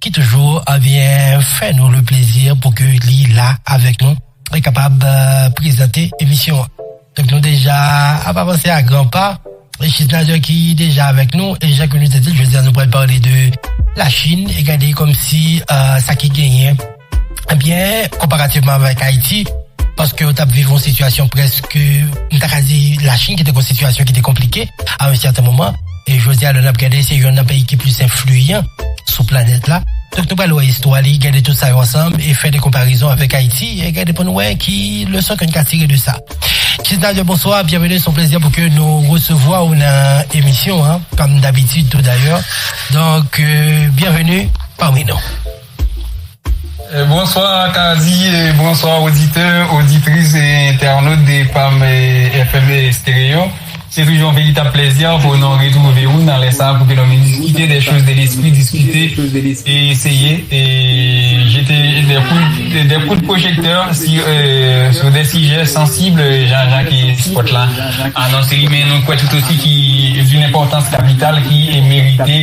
ki toujou vyen fè nou le plezi pou ke li la avèk nou e kapab prezante emisyon an. Donk nou deja ap avanse a gran pa, e Chisnalder ki deja avèk nou, e jan ke nou te di l, jodi a nou pral pale de Lachin e gade kòmsi sa ki genyen. Byen konparativman avèk Ayiti, paske yo t ap viv yon sitiyasyon prèske, m ta ka di Lachin ki te gen yon sitiyasyon ki te konplike a yon sèten moman, e jodi a lè n ap gade se yonn nan peyi ki plis enfliyan sou planèt la. Donk nou pral wè istwa li, gade tout sa yo ansanm e fè de konparizon avèk Ayiti e gade pou n wè ki leson ke n ka tire de sa. Tisnaldo bonswa, byenveni, s on plezi pou ke nou resevwa w nan emisyon an, kòm dabitid tou dayè, donk byenveni pami nou. Bonswa Kazy e bonswa oditè, oditris e entènot de Pam FM Stereo. Se toujou yon veritab plèzi pou nou retwouve ou nan lè sa a pou ke nou vin diskite de choz de lespri, diskite e eseye jete de kout pwojektè sou de sijè sansib jan jan ke spòt la anonse li men nou kwè tout osi ki doun enpòtans kapital ki merite.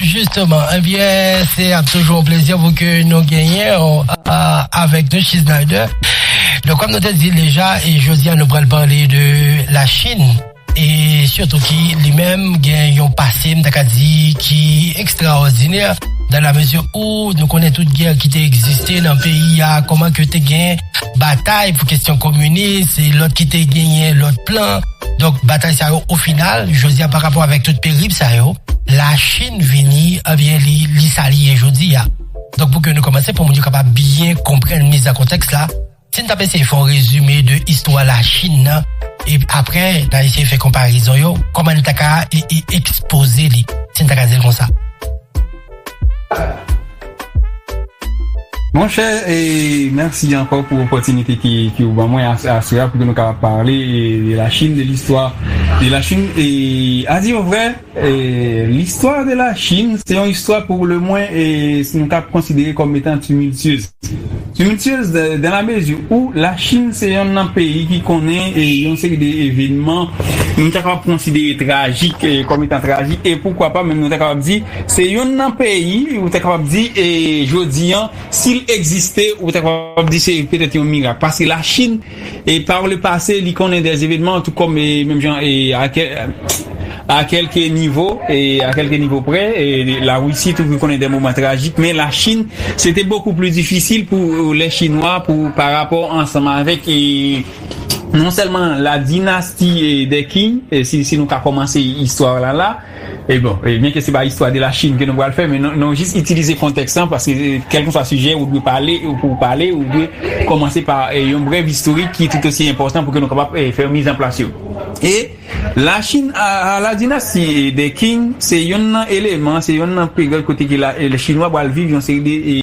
Justement, ebyen se ap toujou yon plezi pou ke nou genyen w avèk nou Chisnyder. Donk kòm nou te di l deja, e jodi a nou pral pale de la Chine e sitou ki li menm gen yon pase m ta ka di ki ekstraòdinè dan la mezi ou nou konnen tout gè ki te egziste nan peyi a, kòman ke te gen batay pou kesyon kominis e lòt ki te genyen lòt plan. Donk batay sa yo o final jodi a parapò avèk tout perip sa yo. La Chine vini ebyen li li sa li ye jodi a. Donk pou ke nou kòmanse pou moun yo kapab byen konprann miz an kontèks la, si n t ap eseye fè yon rezime de istwa La Chine nan e aprè n a eseye fè konparezon yo, kòman n ta ka ekspoze li, si n ta ka di l konsa. Monchè e mèsi ankò pou opòtinite ke ou ban mwen aswè a pou ke nou kapab pale de la Chine, de listwa de la Chine e a di yo vrè e listwa de la Chine se yon istwa pou le mwen e si nou kab konsidere kòm etan tumiltyez tumiltyez dan la mezi ou la Chine se yonn nan peyi ki konnen e yon seri de evenman nou ta kapab konsidere trajik kòm etan trajik e poukwa pa menm nou ta kapab di. Se yonn nan peyi ou ta kapab di e jodi an si l egziste ou ta kapab di se petèt yon mirak paske Lachin e pa ou le pase li konnen dè evenman tou kòm e menm jan e a kèlke nivo e a kèlke nivo prè e Larisi tou ki konnen dè moman trajik men Lachin se te bokou pli difisil pou lè chinwa pou pa rapò ansanm avèk e non sèlman la dinasti e dè Qing si nou ka kòmanse istwa la la. E bon, e byen ke se pa istwa de la Chine ke nou pral fè, men nou jis itilize kontèks lan, paske kèlkeswa sijè ou dwe pale, ou pou ou pale, ou dwe kòmanse pa yon brèv istorik ki tout osi enpòtan pou ke nou kapab fè yon miz an plas yo. E la Chine a, a la dinasti de Qing, se yonn nan eleman, se yonn nan peryòd kote ke la, le Chinwa pral viv yon seri de.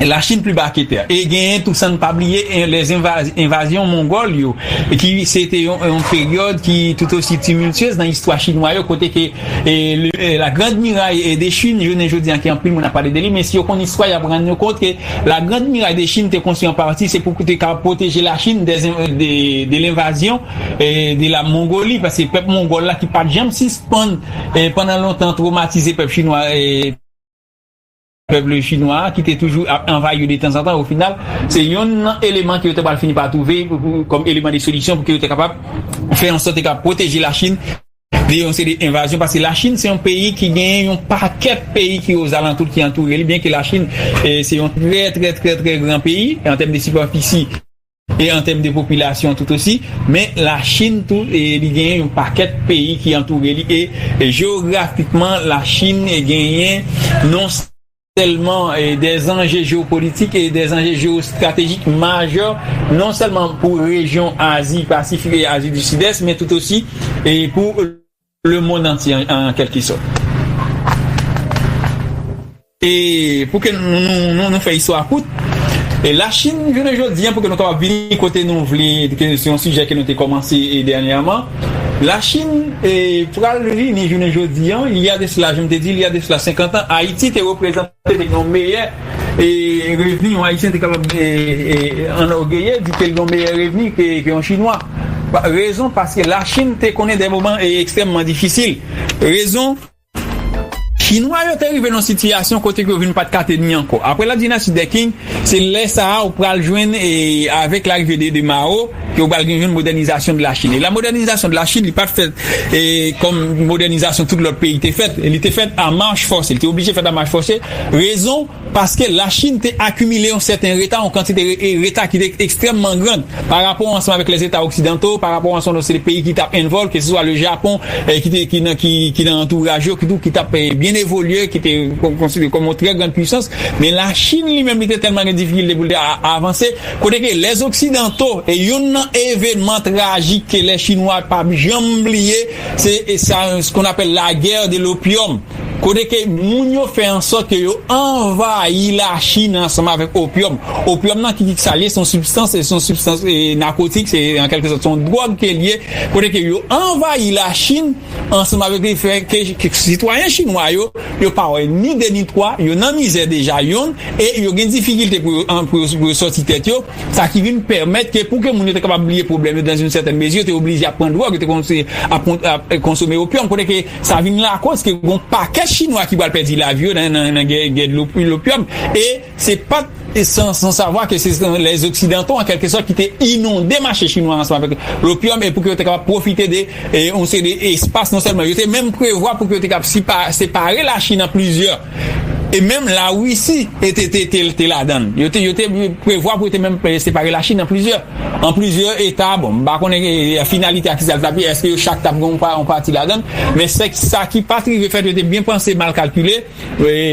la Chine plus bas que terre e genyen tou san pa bliye les invas envazyon mongòl yo ki se te yon yon peryòd ki tout aussi tumultueuse nan istwa chinwa yo kote ke le la grande muraille de Chine jounen jodi an ke anpil moun ap pale de li men si yo konn istwa yap rann yo kont ke la grande muraille de Chine te konstwi an pati se pou te ka pwoteje la Chine des in de de l'invasion de la Mongolie paske pèp mongòl la ki pat janm sispann pandan lontan tromatize pèp chinwa Pèp le Chinwa a, ki te toujou ap anvayi yo detanzantan, ofinal, se yonn nan eleman ke yo ta pral fini pa twouve kòm eleman de solisyon pou ke yo ta kapab fè an sòt yo kapab pwoteje Lachin de yon seri de envazyon. Paske Lachin se yon peyi ki genyen yon pakèt peyi ki ozalantou l, ki antoure l, byenke Lachin se yon trè trè trè trè gran peyi an tèm de sipèfisi. e an tèm de popilasyon tout osi, men la Chinn tou li genyen yon pakèt peyi ki antoure li e jeografikman la Chinn genyen non sèlman dè zanje jeopolitik e dè zanje jeostratejik majè non sèlman pou rejyon Azi Pasifik e Azi di Sidès men tout osi pou Le mond antye an kelke sot. E pou ke nou fè istwa kout, la Chinn jounen jodi an pou ke nou kapab vini kote nou vle, ke se yon sijè ke nou te komanse dènyèman, la Chinn pral vini jounen jodi an, il y a de cela, je m'te dit il y a de cela 50 ans, Ayiti te reprezante. te vin yon meyè revni yon Ayisyen te kapab anògeye di ke l gen yon meyè revni ke yon Chinwa. Rezon, paske Lachin te konnen de moman ekstrèmman difisil. Rezon, Chinwa yo te rive nan yon sitiyasyon kote ke yo vin pa t ka teni ankò. Apre la dinasti dè Qing, se lè sa a ou pral jwenn avèk larive de Mao, Yo pral gen yon modènizasyon de la Chine. E la modènizasyon de la Chine, li pa t fèt e kòm modènizasyon tout lòt peyi te fèt. Li te fèt a mach fòse. Li te oblije fèt a mach fòse. Rezon, paske la Chine te akimile yon sèten reta, yon kantite e reta ki te ekstrèmman grand pa rapò ansanm avèk lè zeta oksidanto, pa rapò ansanm lòt peyi ki t ap envòl, ke se swa le Japon e ki te ki nan ki ki nan antouraj yo ki tou ki t ap byen evolye, ki te konside kòm yon trè grand puisans. Men la Chine li menm li te tèlman gen difikilte pou l te a avanse. Kote ke les occidentaux e youn nan evenman trajik ke les chinois pap janm bliye se sa ce qu'on appelle la guerre de l'opium kote ke moun yo fè an sòt ke yo anvayi la chine ansanm avèk opium, opium nan ki ki sa li ye se yon sibstans se yon sibstans nakotik se an kèlke sòt se yon dròg ke li ye kote ke yo anvayi la chine. Ansanm avèk li fè ke sitwayen chinwa yo, yo pa wè ni 2 ni 3, yo nan mizè deja yon e yo gen difikilte pou yo pou yo sòti tèt yo, sa ki vin pèmèt ke pou ke moun yo te kapab bliye pwoblèm yo dan yn sètèn mezi yo te oblije ap pran dwòg, yo te kòmanse ap konsome opium kote ke sa vin lakòz ke gon pakèt chinwa ki pral pèdi lavi yo nan gè lopium e Se pa t san savwa ke se lè oksidanto an kèlke sòt ki te inonde mache chinwa a ansanm avèk lopyòm e pou ke yo te kapab pwofite de yon seri de espas non sèlman yo te menm prevwa pou ke yo te kapab separe lachin an plizyè e menm larisi te ladan l yo te prevwa pou yo te menm separe lachin an plizyè an plizyè eta bon m pa konnen finalite a kisa l t ap ye èske yo chak t ap gen yon pati ladan l men sa ki pa t rive fèt yo te byen panse mal kalkile.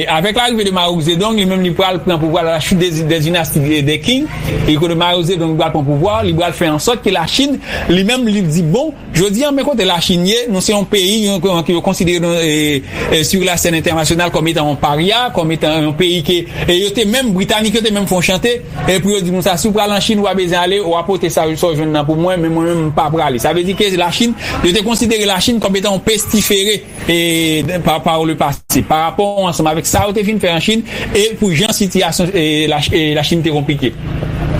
Avèk larive de Mao Zedong, li menm li pral pran pouvwa la chute des dynasties des Qing, e kote Mao Zedong pral pran pouvwa, li pral fè an sòt ke la Chine, li menm li di bon, jodi an men kote la Chine ye, nou se yon peyi ke yo konsidere nou sur la scène internationale kòm etan yon parya, kòm etan yon peyi ke, e yo te menm, Britanik yo te menm fè yon chante, e pou yo di moun sa, si w pral an Chine ou pa bezwen ale, wa pote sa w jwenn nan pou mwen, men mwen menm m pa prale. Sa vle di ke la Chine, yo te konsidere la Chine kòm etan yon pestifere. e pa pa le pase, pa rapò ansanm avèk sa yo te fin fè an Chin e pou jan sitiyasyon la Chin te konplike.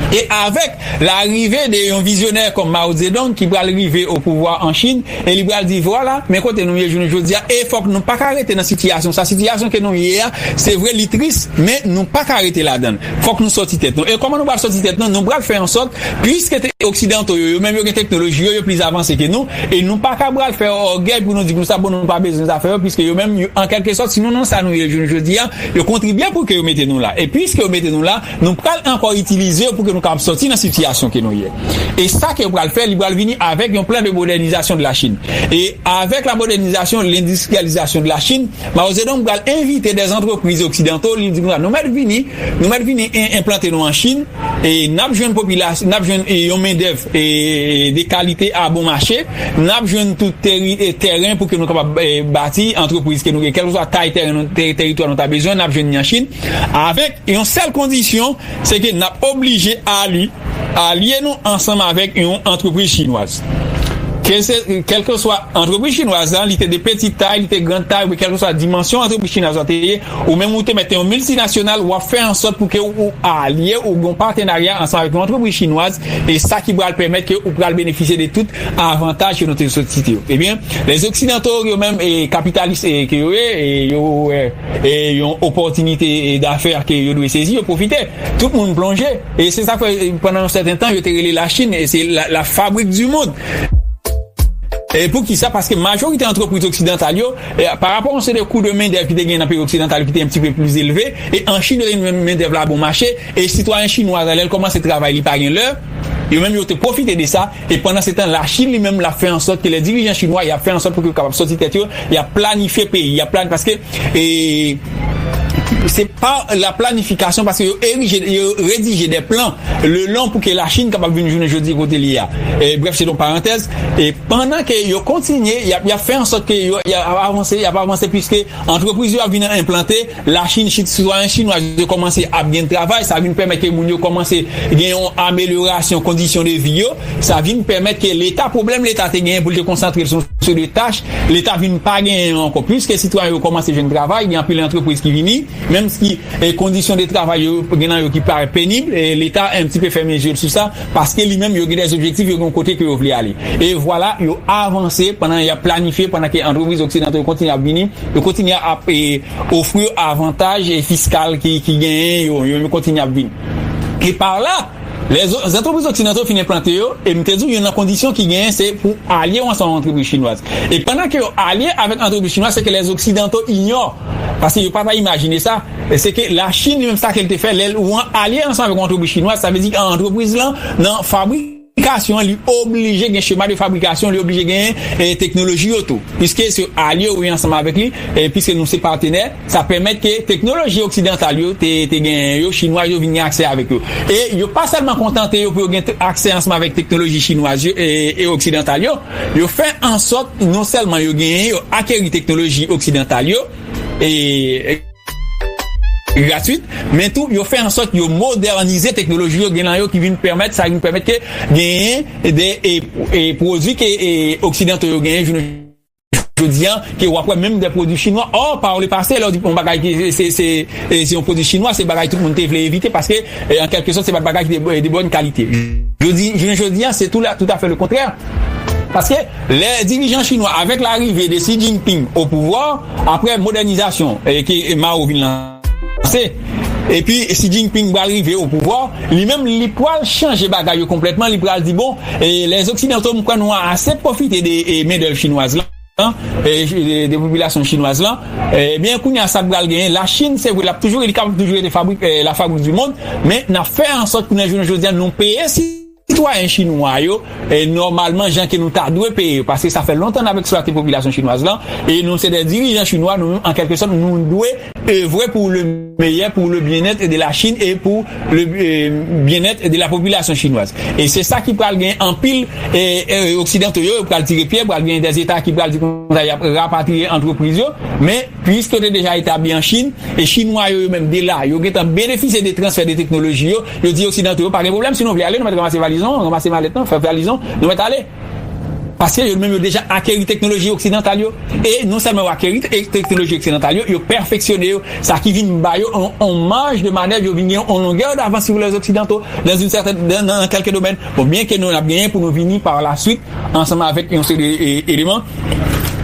E avèk la rive de yon vizyonè kòm Mao Zedong ki pral rive o pouvwa an Chin e li pral di vwala men kote nou ye jounen jodi a e fòk nou paka rete nan sitiyasyon sa, sitiyasyon ke nou ye a se vre li tris men nou paka rete ladann fòk nou sòti tèt nou e kòman nou pral sòti tèt nou, nou pral fè an sòt Pliske te oksidanto yo, yo menm yo gen teknoloji yo, yo plis avanse ke nou, e nou pa ka bral fè ògèy pou nou di konsa bon nou pa bezwen zafè yo piske yo menm an kèlke sòt si nou nan sa nou ye jounen jodi a, yo kontribye pou ke yo mete nou la. E piske yo mete nou la, nou pral ankò itilize yo pou ke nou kapab sòti nan sitiyasyon ke nou ye. E sa ke yo pral fè, li pral vini avèk yon plan de modènizasyon de la Chine. E avèk la modènizasyon, lendistriyalizasyon de la Chine, Mao Zedong pral envite dè antrepriz oksidanto, li di konsa nou mèt vini Nou mèt vini enplante nou an Chin e n ap jwenn popilasyon, n ap jwenn yon mendèv de kalite a bon mache, n ap jwenn tou tèren pou ke nou kapab bati antrepriz ke nou gen. Kèlkeswa tay tèren nou, teritwa nou ta bezwen, n ap jwenn ni an Chin avèk yon sèl kondisyon, se ke n ap oblije alye nou ansanm avèk yon antrepriz chinwaz. Kèlkeswa antrepriz chinwaz la, li te de peti tay, li te gran tay, oubyen kèlkeswa dimansyon antrepriz chinwaz la te ye, Ou menm ou te mèt yon miltinasyonal wap fè ansòt pou ke ou alye ou gen yon patenarya ansanm avèk yon antrepriz chinwaz e sa ki pral pèmèt ke ou pral benefisye de tout avantaj yo nou te sòt site yo ebyen les occidentaux yo menm e kapitalis e ke yo ye e yo wè e yon opòtinite e dafè ke yo dwe sezi yo pwofite tout moun plonje e se sak fè pandan yon sèten tan yo te rele la chine e se la fabrik di mond. E poukisa paske majorite antrepriz oksidantal yo Pa rapò yon seri de kou de mendèv ki te genyen nan peyi oksidantal yo ki te yon ti pe plis elve, e an Chin reny mendèv la bon mache, e sitwayen chinwa sa lè l kòmanse travay li pa gen lè, yo menm yo te pwofite de sa, e pandansetan Lachin li menm l ap fè ansòt ke lè dirijan chinwa y ap fè ansòt pou ke yo kapab sòti tèt yo, y ap planifye peyi, y ap plani, paske e se pa la planifikasyon paske yo erije, yo redije dè plan le lon pou ke Lachin kapab vin jounen jodi kote li ye a. Brèf se yon parantèz. Pandan ke yo kontinye, y ap y ap fè ansòt ke yo y ap avanse, y ap avanse piske antrepriz yo ap vin enplante, la Chine, sitwayen chinwa yo kòmanse ap gen travay, sa vin pèmèt ke moun yo kòmanse gen yon amelyorasyon kondisyon de vi yo, sa vin pèmèt ke Leta, pwoblèm Leta te genyen pou l te konsantre l sou yon seri de tach, Leta vin pa genyen yo ankò. Piske sitwayen yo kòmanse jwenn travay, gen anpil antrepriz ki vini, menmsi kondisyon de travay yo, gen nan yo ki parèt penib, Leta enptipe fèmen je l sou sa. Paske li menm yo gen des objectifs, yo gen yon kote ke yo vle ale. E vwala, yo avanse pandan yap planifye, pandan ke antrepriz oksidanto yo kontinye ap vini, yo kontinye ap ofri yo avantaj fiskal ki genyen yo, yo menm yo kontinye ap vini. E par la, lè zantrepriz oksidanto fin enplante yo, e m te di w youn nan kondisyon ki genyen se pou alye yo ansanm ak antrepriz chinwaz. E pandan ke yo alye avèk antrepriz chinwaz, se ke les oksidanto ignore, paske yo pa ta imajine sa, Se ke la Chine li menm sa ke li te fè lè ou an alye ansanm avèk yon antrepriz chinwaz sa vle di an antrepriz lan nan fabrikasyon an li oblije gen chema de fabrikasyon li oblije gen teknoloji yo tou piske se alye ou ye ansanm avèk li e piske nou se patenè sa pèmèt ke teknoloji oksidantal yo te te genyen yo chinwaz yo vin gen aksè avèk yo e yo pa sèlman kontante yo pou yo gen aksè ansanm avèk teknoloji chinwaz yo e oksidantal yo yo fè ansòt non sèlman yo genyen yo akeri teknoloji oksidantal yo. e gratwit, men tou yo fè ansòt yo modènize teknoloji yo gen nan yo ki vin pèmèt sa vin pèmèt ke genyen de pwodwi ke oksidanto yo genyen jounen jodi an ke wap wè menm de pwodwi chinwa ò par le pase lè ou di yon bagay ki se yon pwodwi chinwa se bagay tout moun te vle evite paske an kèlke sòt se pat bagay ki te de bòn kalite jounen jodi an se tou la tout afè le kontrè paske. Lè dirijan chinwa avèk larive de Xi Jinping o pouvwa, aprè modènizasyon ke Mao vin lanse, epi Xi Jinping pral rive o pouvwa, li menm li pral chanje bagay yo konplètman, li pral di bon, lè zoksidanto m kwè nou ase pwofite de mendèv chinwaz lan, de popilasyon chinwaz lan, ebyen kounye a sa k pral genyen, la Chine se vre l ap toujou, li kapab toujou rete la fabrique du monde, men n ap fè ansòt pou nan jounen jodi a nou peye. Sitwayen chinwa yo, nòmalman jan ke nou ta dwe peye yo, paske sa fè lontan n ap eksplwate popilasyon chinwaz lan, e nou se dè dirijan chinwa, nou menm an kèlke sòt nou dwe evre pou le meyè, pou le byennèt de la Chinn e pou le byennèt de la popilasyon chinwaz. E se sa ki pral gen anpil oksidanto yo, yo pral tire pyè, pral gen dè Eta ki pral di konsa y ap rapatriye antrepriz yo, men pwiske yo te deja etabli an Chinn, e chinwa yo, yo menm de la, yo gentan benefisye de transfè de teknoloji yo, Yo di oksidanto yo pa gen pwoblèm si nou vle ale nou mèt ranmase valiz nou, ranmase malèt nou, fè valiz nou, nou mèt ale. Paske yo menm yo deja akeri teknoloji oksidantal yo e non sèlman yo akeri teknoloji oksidantal yo, yo pèfeksyone yo, sa ki vin ba yo yon maj de manèv, yo vin gen yon longè davans sou lè oksidanto nan kèlke domèn. Bon, byen ke nou ap genyen pou nou vini pa la swit ansanm avèk yon seri de eleman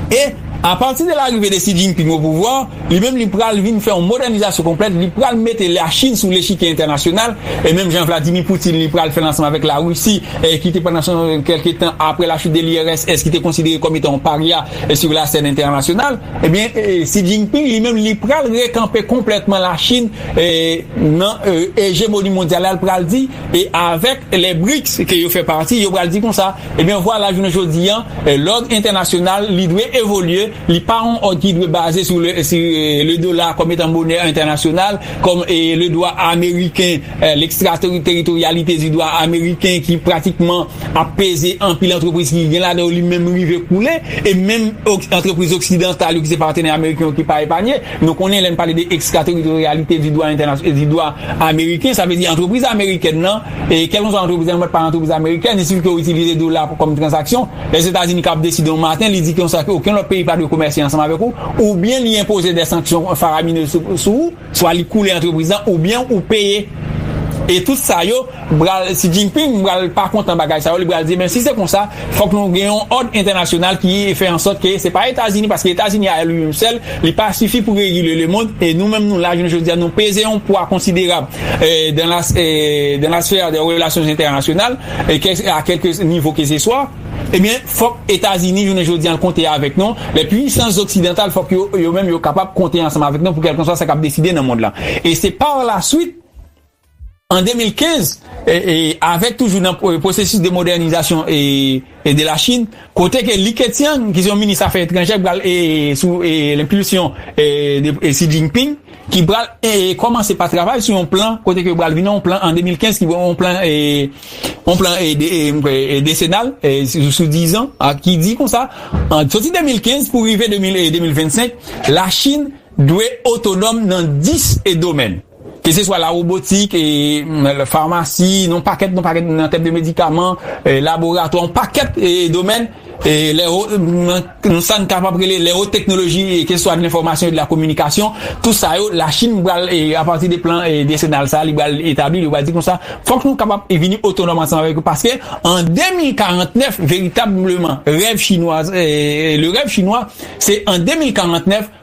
e apati de larive de Xi Jinping o pouvwa, Li menm li pral vin fè yon modènizasyon konplèt, li pral mete Lachin sou lechikye entènasyonal, e menm jan Vladimir Putin li pral fè l ansanm avèk Larisi, ki te pandan son kèlke tan apre la chute de l'URSS ki te konsidere kòm etan yon parya sur la scène entènasyonal, ebyen Xi Jinping li menm li pral rekanpe konplètman Lachin nan ejemoni mondyal la, l pral di e avèk les BRICS ke yo fè pati yo pral di konsa, ebyen vwala jounen jodi an lòd entènasyonal li dwe evolye Li pa yon òd ki dwe baze sou le dola kòm etan monè entènasyonal, kòm le dwa ameriken, lekstrateritoryalite di dwa ameriken ki pratikman ap peze anpil antrepriz ki gen ladan yo li menm rive koule, e menm antrepriz oksidantal yo ki se patenè ameriken yo ki pa epanye. Nou konnen lè n pale de ekstrateritoryalite di dwa entènasyonal, di dwa ameriken, sa vle di antrepriz amerikèn nan, kèlkonswa antrepriz lan, menm lè l pa antrepriz amerikèn, si l ke itilize dola kòm tranzaksyon, Lèzetazini kab deside yon maten li di konsa ke okenn lòt peyi pa dwe komèse ansanm avèk ou, oubyen li enpoze dè sanksyon faraminez sou ou, swa li koule antrepriz lan oubyen ou peye. E tout sa yo pral, Xi Jinping pral pa kontan bagay sa yo, li pral di men si se konsa fòk nou gen yon òd entènasyonal ki fè ansòt ke se pa Etazini paske Etazini a li menm sèl li pa sifi pou regile lemond e nou menm nou la jounen jodi a nou peze yon pwa konsiderab dans la sphère des relations internationales. e kè a kèlke nivo ke se swa, ebyen fòk Etazini jounen jodi an konte avèk nou, lè pwisans zoksidantal fòk yo yo menm yo kapab konte ansanm avèk nou pou kèlkanswa sa k ap deside nan mond lan. E se par la swit an 2015 e e avèk toujou nan pwosesis de modènizasyon e e de la Chine, kote ke Li Keqiang ki se yon minis afè etranjè ki pral e sou e lenpilsyon e de e Xi Jinping ki pral e kòmanse pa travay sou yon plan kote ke yo pral vin yon plan an 2015 ki yon plan e yon plan e de e m kwè e desenal e sou dizan a ki di konsa an soti 2015 pou rive 2000 e 2025 la Chine dwe otonòm nan 10 e domèn. Ke se swa lawobotik, farmasi, yon pakèt yon pakèt nan tèm de medikaman, laboratwa, yon pakèt domèn, nan sa n kapab rele lè wo teknoloji ke se swa de lenfòmasyon e de la kominikasyon, tou sa yo Lachin pral apati de plan desenal sa li pral etabli, li pral di konsa fòk nou kapab vini otonòm ansanm avèk yo paske an 2049 veritableman rèv chinwa le rèv chinwa se an 2049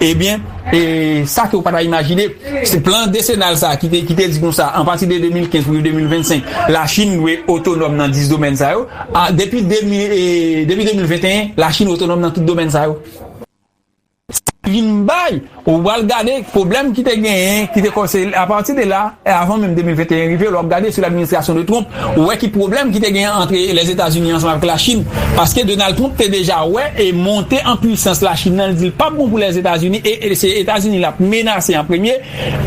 Ebyen, e sa ke ou pa ta imajine, se plan desenal sa ki te ki te di konsa, a pati de 2015 pou rive 2025, Lachin dwe otonòm nan 10 domèn sa yo, a depi 2000 e depi 2021, Lachin otonòm nan tout domèn sa yo. Sa vin bay, ou al gade pwoblèm ki te genyen, ki te kò se a pati de la, avan menm 2021 rive, lè w ap gade sou l'administration de Trump, Ou wè ki pwoblèm ki te gen antre Lèzetazini ansanm avèk Lachin, paske Donald Trump te deja wè e monte an pwisans Lachin nan, li di l pap bon pou Lèzetazini e se Etazini l ap menase an premye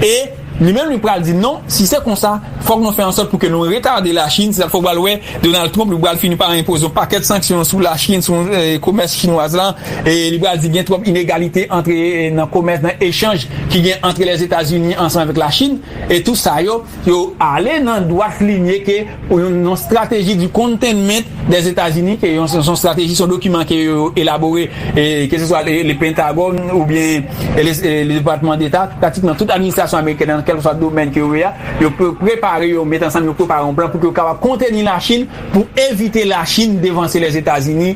e li menm li pral di non, si se konsa fòk nou fè ansòt pou ke nou retade Lachin, se sa k fè ou pral wè Donald Trump li pral fini pa enpoze yon pakèt sanksyon sou Lachin, sou komès chinwaz la e li pral di gen twòp inegalite antre nan komès, nan echanj ki gen antre Lèzetazini ansanm avèk Lachin e tou sa yo. Yo ale nan dwat linye ke yon strateji di containment dè Etazini ke yon son strateji son dokiman ke yo elabore ke se swa le Pentagòn ou byen le Depatman Deta pratikman tout administrasyon amerikèn nan kèlkeswa domèn ke yo ye a yo prepare yo met ansanm yo prepare yon plan pou ke yo kapab konteni Lachin pou evite Lachin devanse Lèzetazini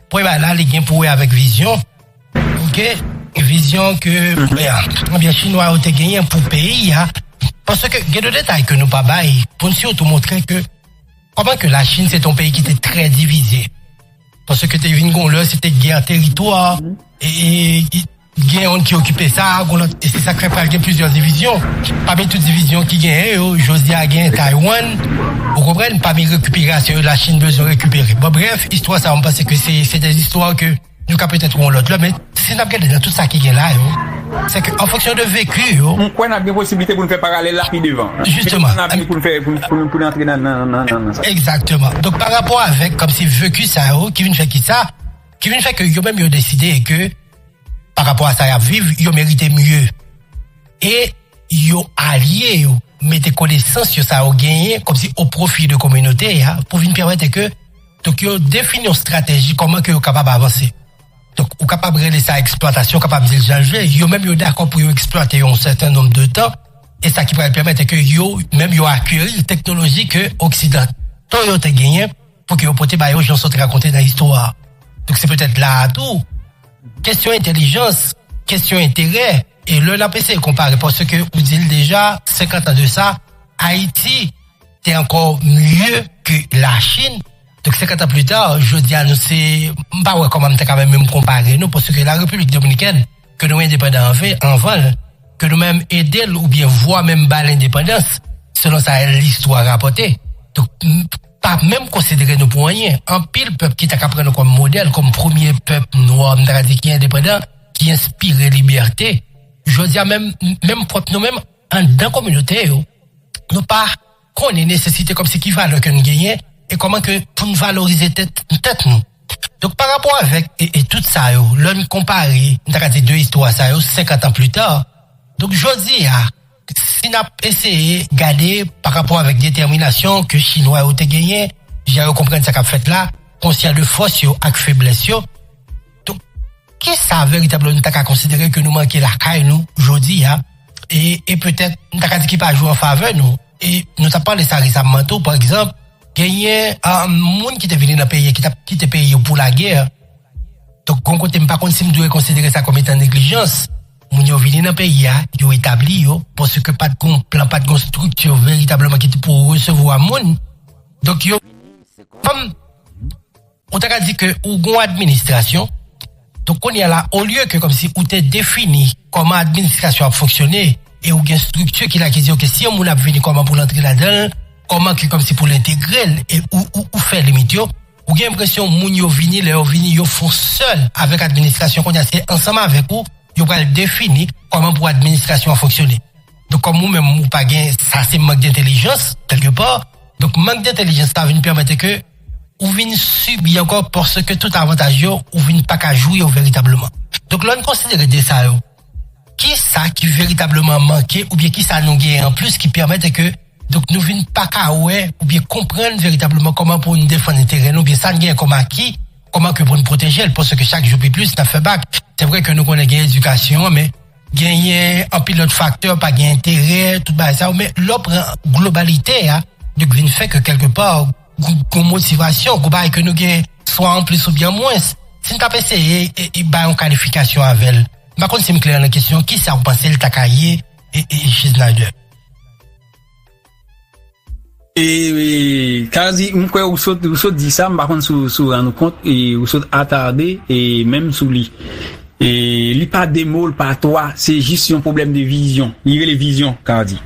Premye bagay la li gen pou wè avèk vizyon ok vizyon ke ebyen chinwa yo te genyen pou peyi a paske gen de detay ke nou pa bay pou n sitou montre ke kòman ke la chin se te yon peyi ki te trè divize paske te vin gen yon lè se te gè teritwa e Gen youn ki okipe sa, goun lòt. E se sa k fè pral gen plizyè divizyon. Pami tout divizyon ki genyen yo, jodi a genyen Taiwan, ou konprann, pami rekiperasyon yo Lachin bezwen rekipere. Bon brèf, istwa sa yo m panse ke se se de istwa ke nou ka petèt wè yon lòt lè men si n ap gade nan tout sa ki gen la yo, se ke an fonksyon de veki yo. M kwè n ap gen posiblite pou n fè paralèl la pi devan. Jisteman. Petèt nan lavni pou n fè, pou n antre nan sa. Egzakteman. Donk parapò avèk kòmsi veki sa yo ki vin fè ki sa, ki vin fè ke yo menm yo deside ke. pa rapò a sa y ap viv, yo merite mye. E yo alye yo mete konesans yo sa yo genyen kòmsi o pwofi de kominote a pou vin pèmete ke donk yo defini yon strateji kòman ke yo kapab avanse. Donk ou kapab rele sa eksplwatasyon, ou kapab di l jan l vle, yo menm yo dakò pou yo eksplwate yo yon sèten nonb de tan e sa ki pral pèmete ke yo menm yo akeri teknoloji ke oksidan tan yo te genyen. pou ke yo pote ba yo jan sot rakonte nan istwa. Donk se petèt la a tou, kesyon entelijans, kesyon enterè, e lè n ap eseye konpare paske ou di l deja, 50 an de sa, Ayiti te ankò mye ke Lachin, donk 50 an plita, jodi a nou se, m pa wè kòman m ta ka menm menm konpare nou paske la Repiblik Dominikèn ke nou endepandan anve, anvan l, ke nou menm ede l oubyen vwa menm ba l endepandans, selon sa listwa rapòte. Donk. pa menm konsidere nou pou anyen. Anpil pèp ki ta ka pran nou kòm modèl, kòm premye pèp nwa, m ta ka di ki endepandan, ki enspire libète, jodi a menm, menm pwòp nou menm, anndan kominote yo, nou pa konnen nesesite kòmsi ki valè ke n genyen e kòman ke pou n valorize tèt, tèt nou. Donk pa rapò avèk e tout sa yo, lè n konpare, m ta ka di 2 istwa sa yo, 50 an pli ta, donk jodi a, Si nap eseye gade pa rapò avèk detèminasyon ke chinwa yo te genyen, jan yo konprann sa kap fèt la, konsyan de fòs yo ak feblès yo, donk kisa veritableman nou ta ka konsidere ke nou manke lakay nou jodi a e petèt nou ta ka di ki pa jwe an favè nou? E nou tap pale sa resamman tou, pa egzanp, genyen moun ki te vini nan peyi ki tap kite peyi yo pou lagè, donk gon kote m pa konn si m dwe konsidere sa kòm etan neglijans. Moun yo vini nan peyi a, yo etabli yo, paske pa t gen yon plan, pa t gen yon estrikti veritableman ki te pou resevwa moun. Donk yo vini, se kòm, ou ta ka di ke ou gen yon administrasyon, donk kounye a la, olye ke kòmsi ou te defini kòman administrasyon an ap fonksyone, e ou gen estrikti ki la ki di ok, si yon moun ap vini kòman pou l antre ladan l, kòman ke kòmsi pou l entegre l, e ou fè limit yo. Ou gen enpresyon moun yo vini, lè yo vini yo fon sèl avèk administrasyon kounye a se ansanm avèk ou yo pral defini kòman pou administrasyon an fonksyone. Donk kòm ou menm ou pa gen sa se mank dentelijans kèlke pa, donk mank dentelijans sa vin pèmete ke ou vin sibi ankò paske tout avantaj yo ou vin paka jwi yo veritableman. Donk lè n konsidere 2 sa yo. Ki sa ki veritableman manke oubyen ki sa nou genyen anplis ki pèmèt ke donk nou vin pa ka wè oubyen konprann veritableman kòman pou n defann enterè nou oubyen sa n genyen kòm aki, kòman ke pou n pwoteje l paske chak jou pi plis n ap fè bak. Se vre ke nou konnen gen edikasyon an men genyen anpil lòt faktè, pa gen enterè, tout bagay sa yo men lè w pran globalite a, donk vin fè ke kèlke pa, Gwo motivasyon, gwo bagay ke nou gen swa an plis oubyen an mwens. Si n t ap eseye bay yon kalifikasyon avè l, m pa konn si m klè nan kesyon, kisa ou panse l ta ka ye, Schneider? Kazy, m kwè ou sot di sa, m pa konn si w rann ou kont, ou sot atarde menm sou li. Li pa de mo, li pa twa, se jis yon pwoblèm de vizyon. Li rele vizyon, Kazy.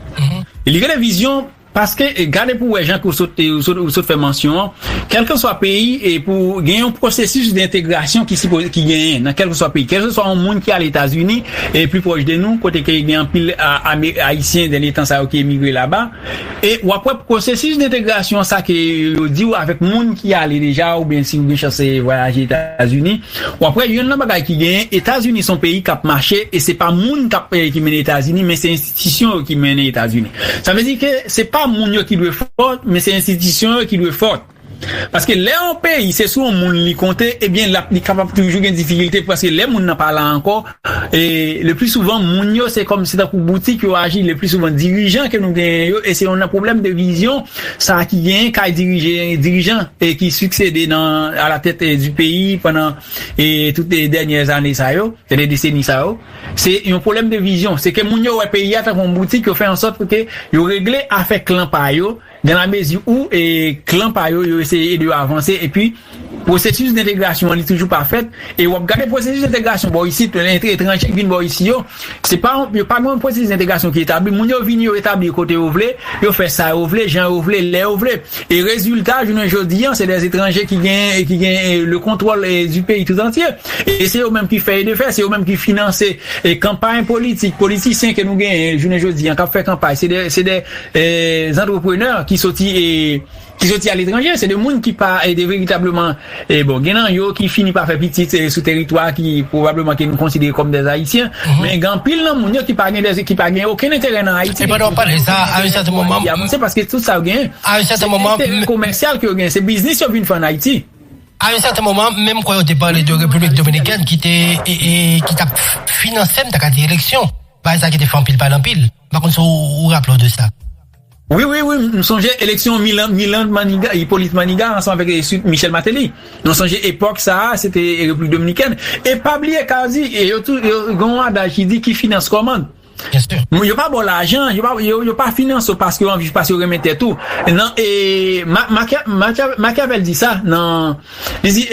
Li rele vizyon Paske gade pou wè jan ke ou sot fè mansyon an, kèlkeswa peyi e pou gen yon pwosesis dentegrasyon ki sipoze ki genyen nan kèlkeswa peyi, kèlkeswa yon moun ki ale Etazini e pli pwòch de nou kote ke gen anpil ayisyen dènye tan sa yo ki emigre laba e w ap wè pwosesis dentegrasyon sa ke yo di w avèk moun ki ale deja oubyen si ou gen chans vwayaje Etazini. Wap wè yonn nan bagay ki genyen etazini son peyi kap mache e se pa moun kap ki mennen etazini men se enstitisyon yo ki mennen etazini sa vle di ke se pa moun yo ki dwe fòt men se enstitisyon yo ki dwe fòt paske lè yon peyi se sou yon moun li konte ebyen lap li kapab toujou gen difikilte paske lè moun nan pa la ankò E le pli souvan moun yo se kòm se tankou boutik yo aji le pli souvan dirijan ke nou genyen yo e se yon nan pwoblèm de vizyon sa ki genyen kay dirije dirijan e ki siksede nan a la tèt di peyi pandan e tout e dènyè zane sa yo e de deseni sa yo se yon pwoblèm de vizyon se ke moun yo wè peyi a tankou yon boutik yo fè an sòt pou ke yo regle afè klan pa yo Nan lamezi ou klan pa yo, yo eseye ede yo avanse epi pwosesis dentegrasyon an li toujou pa fèt e wap gade pwosesis dentegrasyon bò isit, etranje k vin bò isi yo, se pa yo pa gen yon pwosesis dentegrasyon ki etabli, moun yo vini yo etabli kote yo vle, yo fè sa yo vle, jan yo vle, lè yo vle e rezilta jounen jodi an se dè etranje ki gen ki gen le kontwòl di peyi tout antye e se yo menm ki fè e defè, se yo menm ki finanse kanpay politik, politisyen ke nou genyen jounen jodi an kap fè kanpay se dè se dè. Zantreprenè ki soti ki soti aletranje, se de moun ki pa de veritableman, bon gen nan yo ki fini pa fè pitit sou teritwa ki pwobableman ke nou konsidere kòm dè Ayisyen, men gen anpil nan moun yo ki pa gen dè ki pa gen okenn enterè nan Ayiti. E pandan wap pale sa, a yon sèten moman, ki avanse paske tout sa yo genyen, a yon sèten moman, se enterè komèsyal ke yo genyen, se biznis yo vin fè an Ayiti. A yon sèten moman, menm kwè yo te pale de Repiblik Dominikèn ki te ki tap finanse, m ta ka di eleksyon, bagay sa ki te fè anpil pale anpil. M pa konn si ou raple w de sa. Wi, wi, wi, m sonje eleksyon Milan, Milan Maniga, Hyppolite Manigat ansanm avèk ensuit Michel Martelly. Mwen sonje epòk sa a, se te Repiblik Dominikèn. E pa bliye Carzy, e yo tou, yo gen yon adaj ki di ki finans kòmand. Byensi. Yo pa ba w lajan, yo pa, yo pa finanse w paske yo anvi, paske yo renmen tèt ou. Nan, e, Ma, Makia, Makia, Machiavel di sa nan. Li di,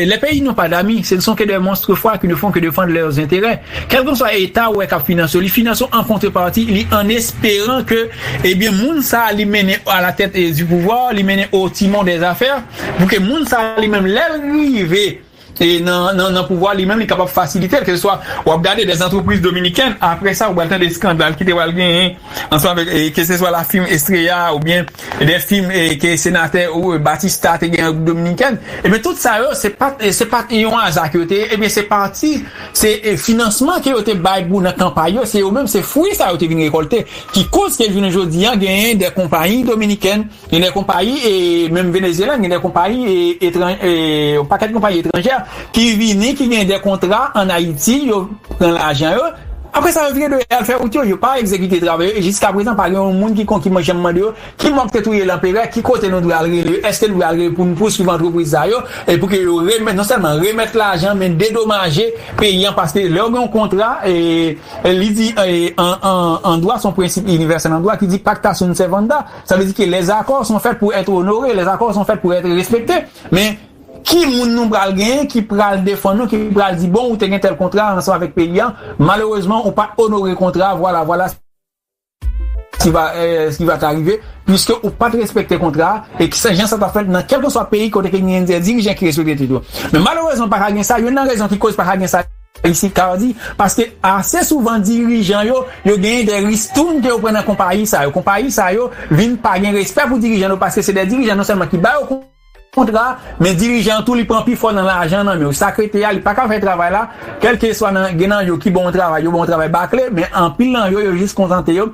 Les pays n'ont pas d'amis, ce ne sont que des monstres froids qui ne font que défendre leurs intérêts. Kèlkanswa eta ou wè k'ap finanse w, li finanse w an kontreparti, li an esperan ke ebyen moun sa li mennen a la tèt du pouvoir, li mennen au timon des affaires, pou ke moun sa li menm lè l rive nan pouvwa li menm li kapab fasilite l, ke se swa w'ap gade des entreprises dominicaines, apre sa ou pral tande skandal ki te pral genyen. Ansanm avèk keseswa la fim Estrella a oubyen ebyen fim ke senatè Batista te gen an Repiblik Dominikèn, ebyen tout sa yo se pat se pat yon aza ke yo te ye ebyen se pati se finansman ke yo te bay pou nan kanpay yo se yo menm se fwi sa yo te vin rekòlte ki koz ke jounen jodi a genyen de konpayi dominikèn Gen de konpayi, menm Venezyela, gen de konpayi etranj, yon pakèt konpayi etranjè ki vini, ki gen de kontra an Ayiti, yo pran lajan yo, apre sa yo vire do yo al fè wout yo, yo pa egzekite travay yo, e jiska prezan pa gen yon moun ki kon, ki man janm mande yo, ki mòg te touye Lanperè, ki kote nou dwe al rele yo, èske nou dwe al rele pou nou pouswiv antrepriz sa yo, e pou ke yo remèt, non sèlman remèt lajan, men dedomaje peyi an, paske lè ou gen yon kontra, li di an dwa, se yon prensip inivèsèl an dwa ki di pacta sunt servanda. Sa vle di ke les accords sont faits pour être honorés, les accords sont faits pour être respectés. Men, ki moun nou pral genyen ki pral defann nou, ki pral di bon ou te gen tèl kontra ansanm avèk peyi an, malerezman ou pat onore kontra a, vwala vwala ce qui va t'arriver puisque ou pat respekte kontra a, e ki se jan sa ta fèt nan kèlkeswa peyi kote ke genyen dè dirijan ki respekte tèt yo. Men malerezman pa ka gen sa, youn nan rezon ki koz pa ka gen sa. Isit ka di, paske ase souvan dirijan yo, yo genyen de ristoun ke yo pran nan konpayi sa yo. Konpayi sa yo vin pa gen respè pou dirijan yo paske se de dirijan non sèlman ki ba yo kontra, men dirijan an tou li pran pifò nan lajan nan men yo. Sa k rete a, li pa ka fè travay la, kèlkeswa nan gen nan yo ki ba w travay, yo ba w travay bakle, men anpil nan yo, yo jis kontante yo.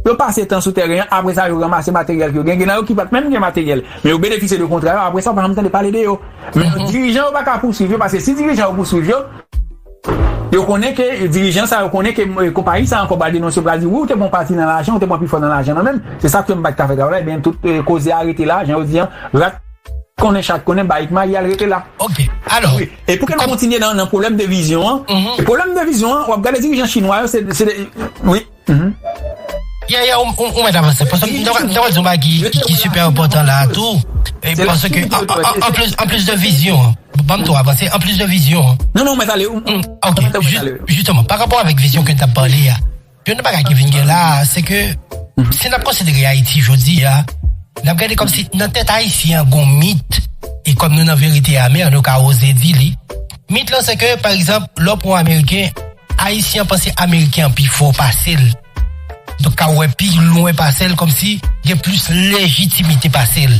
Yo pase tan sou tèren an, apre sa yo ranmase materyèl ke yo gen, gen nan yo ki pa t menm gen materyèl, men yo benefisye de kontra yo, apre sa ou pa janm tande pale de yo. Men yo dirijan yo pa ka pouswiv yo, paske si dirijan yo pouswiv yo, yo konnen ke dirijan sa yo konnen ke konpayi sa ankò pral denonse yo pral di wi ou te pran yon pati nan lajan, ou te pran pifò nan lajan nan menm, se sa k fè m pa t ka fè travay la, ebyen tout koze a rete la, jan yo di an, rat konnen chat konnen, bayik mayi al rete la. Ok, alò, E pou kèn kontinye nan pwoblèm de vizyon an, e pwoblèm de vizyon an, wap gade dirijan chinwa yo, se de, se de, wi, hum. Yeah yeah ou mèt avanse paske m ta pral di yon bagay ki sipè enpòtan la a tou paske anplis de vizyon an banm tou avanse anplis de vizyon an non non ou mèt ale ok jisteman parapò avèk vizyon ke n t ap pale a Youn nan bagay ki vin gen la a, se ke si n ap konsidere Ayiti jodi a, n ap gade kòmsi nan tèt Ayisyen an gen yon mit, e kòm nou nan verite amè, nou ka oze di li. Mit lan se ke, pa egzanp, lè w pran yon Ameriken, Ayisyen an panse Ameriken an pi fò pase l, donk ka wè pi lwen pase l, kòmsi gen plis lejitimite pase l.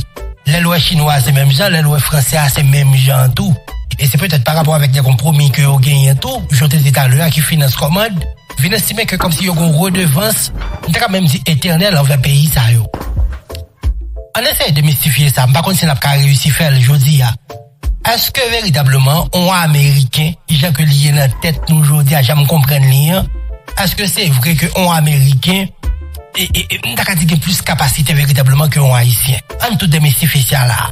Lè l wè Chinwa a se menm jan, lè l wè Fransè a se menm jan tou. E se petèt parapò avèk de konpwomi ke yo genyen tou, jan w te di talè a, ki finans kòmand. vin estime ke kòmsi yo gen yon redevans, m ta kab menm di etènèl anvè peyi sa yo. Ann eseye demistifye sa, m pa konn si n ap ka reyisi fè l jodi a. Èske veritableman yon Ameriken, jan ke li ye nan tèt nou jodi a, jan m konprann li an, èske se vre ke yon Ameriken, e, e, e, m ta ka di gen plis kapasite veritableman ke yon Ayisyen? Ann tou demistifye sa la a.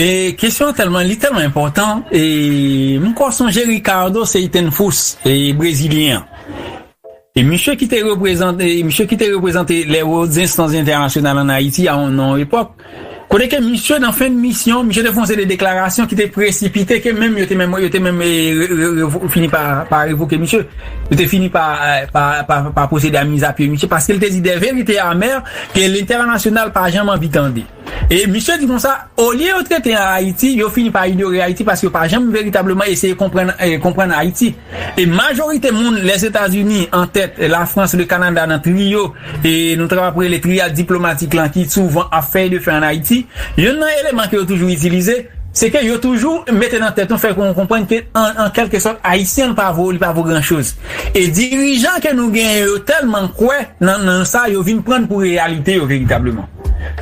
E kesyon an tèlman li tèlman enpòtan e m ko sonje Ricardo Seitenfus e brezilyen an e misye ki te reprezante misye ki te reprezante les hautes instances internationales en Haïti a yon epòk kote ke misye nan fen misyon misye te fè yon seri de deklarasyon ki te presipite ke menm yo te menm yo te menm fini pa pa revoke misye yo te fini pa pa pwosede a mizapye misye paske li te di des vérités amères ke lentènasyonal pa janm anvi tande. E misye di konsa, olye yo trete an Ayiti, yo fini pa inyore Ayiti paske yo pa janm veritableman eseye konprann konprann Ayiti. E majorite moun, Lèzetazini an tèt, Lafrans, Lekanada nan triyo e nou ta kap rele triyad diplomatik lan ki souvan ap fè e defè an Ayiti, yonn nan eleman ke yo toujou itilize, se ke yo toujou mete nan tèt nou, fè nou konprann ke an kèlke sòt Ayisyen pa vo, li pa vo gran choz. E dirijan ke nou genyen yo tèlman kwè nan nan sa yo vin prann pou reyalite yo veritableman.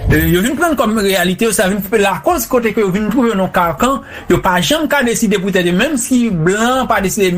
Yo vin prann kòm reyalite yo sa vin lakòz kote ke yo vin twouve yo nan karkan yo pa janm ka deside pou tèt yo menm si blan an pa deside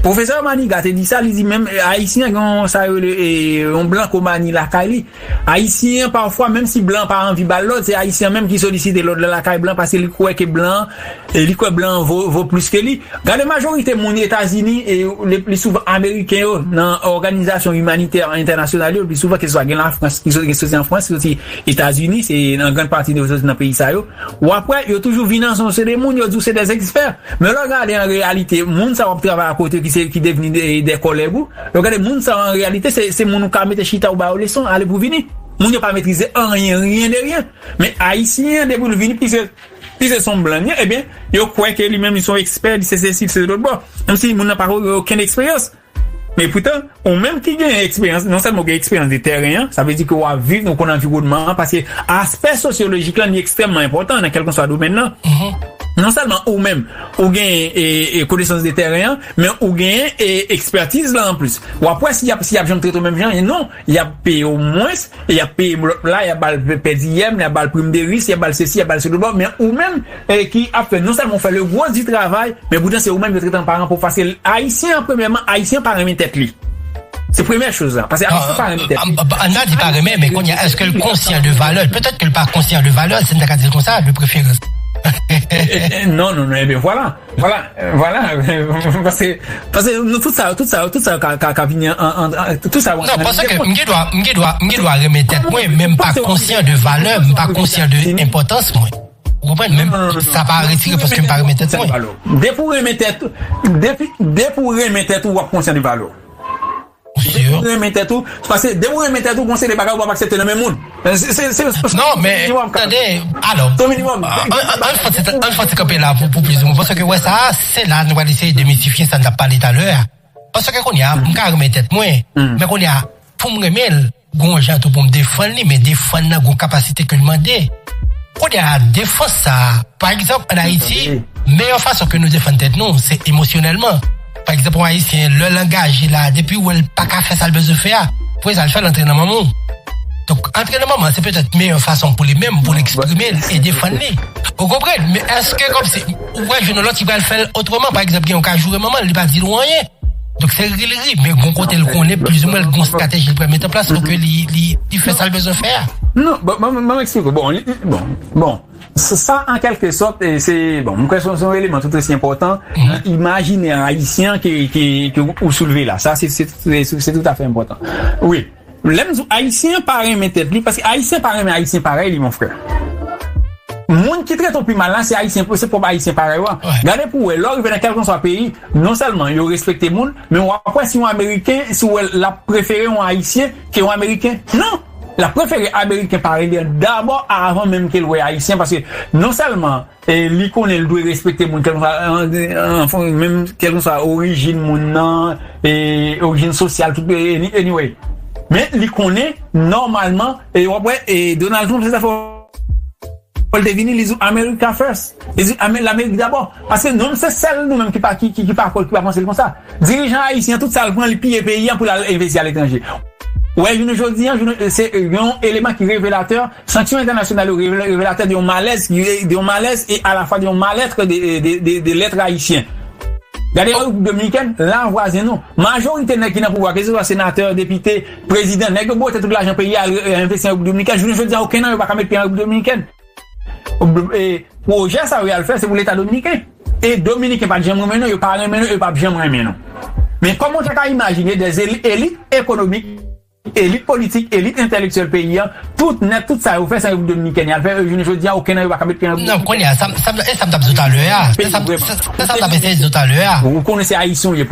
Pwofesè Maniga te di sa li di menm ayisyen gen yon sa yo rele yon blankomani lakay li Ayisyen an pafwa menm si blan an pa anvi bal lòd se ayisyen an menm ki solisite lòd lan lakay blan paske li kwè ke blan an li kwè blan an vo vo plis ke li gade majorite moun etazini e le pli souvan ameriken yo nan òganizasyon imanitè entènasyonal yo le pli souvan ke se swa gen lafrans ki soti soti an frans soti etazini se an grand pati yo soti nan peyi sa yo wap wè yo toujou vin an son se de moun yo di w se de zèkspè men lè w gade an reyalite moun sa wap travay akote yo ki se ki devni de kòlèg ou. Lè w gade moun sa yo an reyalite se moun ou ka mete chita ou ba yo leson ale pou vini. Moun yo pa metrize anyen, rien de rien. Men ayisyen an depi l vini pise s on blan li ye ebyen yo kwè ke li menm li s on ekspè li se sesi li se lotbò. Kòm si moun nan pa gen okenn eksperyans. Men poutan ou menm ki gen eksperyans non sèlman ou gen eksperyans de tèren an sa vle di ke w ap viv ou konn anviwònman an paske aspè sosyolojik lan li ekstrèmman enpòtan nan kèlkanswa domèn lan. Non sèlman ou menm ou gen konesans de tèren an. Men ou genyen ekspertiz la anplis. W ap wè si y ap si y ap janm trete w menm jan e non y ap peye w mwens e y ap peye lòt la y ap ba l pèdiyèm y ap ba l prim de ris y ap ba l sesi y ap ba l selobò men ou menm ki ap fè non sèlman ou fè le gwo di travay men poutan se ou menm yo trete an paran pov paske ayisyen an premyèman ayisyen pa renmen tèt li se premyè choz la paske ayisyen pa renmen tèt li an nan di pa renmen men konnya èske l konsyan de valè l petèt ke l pa konsyan de valè l si m ta ka di l konsa de preferans non non non e ben vwala. Vwala, vwala, paske, paske nou tout sa yo, tout sa yo, tout sa yo ka vini an, an, an, an, tout sa yo an nan lide moun. Non, paske m gen dwa, m gen dwa, m gen dwa renmen tèt mwen, men m pa konsyan de valè m, m pa konsyan de enpòtans mwen. Ou konprann? Men sa pa retire paske m pa renmen tèt mwen. Depi ou renmen tèt ou, depi, depi ou renmen tèt ou, w ap konsyan de valè w. Depi ou renmen tèt ou, pase depi ou renmen tèt ou, gon seri de bagay ou pap aksepte nan men moun. Non men, tande, alò, ann fè ti kanpe la pou plis moun, paske wè sa, se la nou pral eseye demitifye sa n t ap pale talè a. Paske kounye a, m ka renmen tèt mwen, men kounye a, pou m renmen l, Gon yon jan tou pou m defann li, men defann nan gon kapasite ke li mande. Kounye a, defans sa a, pa egzanp, ann Ayiti, meyè fason ke nou defann tèt nou, se emosyonèlman. Pa egzanp, yon Ayisyen, lè l angaje la, depi l wè l pa ka fè sa l bezwen fè a, premye sa l fè, l antre nan manman l. Donk, antre nan manman l, se petèt meyè fason pou li menm, pou l eksprime l e defann li. Ou konprann? Men èske kòmsi. Ou pral jwenn yon lòt ki pral fè l otreman. Pa egzanp, gen yon ka joure manman l, li pa di l ou anyen. Donk se ri l ri, men gon kote l konnen plizoumwen l gen yon estrateji li pral mete an plas pou ke li fè sa l bezwen fè a. Non, bon, ban m eksplike w. Bon, li, bon, bon. Sa an kèlke sòt se, bon, m kwè se yon eleman tout osi enpòtan nan imajinè ayisyen an ke ou soulve la. Sa se toutafè enpòtan. Wi. Lèm diw ayisyen an pa renmen tèt li paske ayisyen pa renmen ayisyen parèy li mon frè moun ki trete w pi mal la se ayisyen se pwòp ayisyen parèy w an gade pou wè lè w rive nan kèlkanswa peyi non sèlman yo respekte moun men wap wè si yon ameriken si w wèl lap prefere yon ayisyen ke yon ameriken nan lap prefere ameriken parèy li an dabò avan menm kel wè ayisyen paske non sèlman E li konnen li dwe respekte moun kèlkeswa anfen menm kèlkeswa orijin moun nan, e orijin sosyal tout anyway men li konnen nòmalman e wap wè e Donald Trump se sa fè wè li te vini li di America first li di Amerik dabò paske nou menm se sèl nou menm ki pa ki pa panse l konsa. Dirijan ayisyen tout sal pran li piye peyi an pou lal envesti a letranje. Wè jounen jodi an se yon eleman ki revelatè, sanksyon entènasyonal yo revelatè de yon malèz de yon malèz e alafwa de yon malètre de lètre ayisyen. Gade Repiblik Dominikèn, la vwazen nou. Majorite nèg ki nan pouvwa keseswa senatè, depite, prezidan, nèg yo bwote tout lajan peyi a al envesti an Repiblik Dominikèn, jounen jodi an okenn nan yo pa ka met pye an Repiblik Dominikèn. Pwojè sa yo yal fè se pou leta dominiken e dominiken pat janm renmen nou yo pa renmen nou e yo pap janm renmen nou men kòman w ta ka imajine dè elit ekonomik elit politik elit entèlektyèl peyi an tout nèt tout sa yo fè se repiblik dominikèn yal fè e jounen jodi a oken nan yo pa ka met pye nan repiblik dominikèn kounye a se sa m tap di w talè a se sa m tap eseye di w talè a ou konnen se ayisyen w ye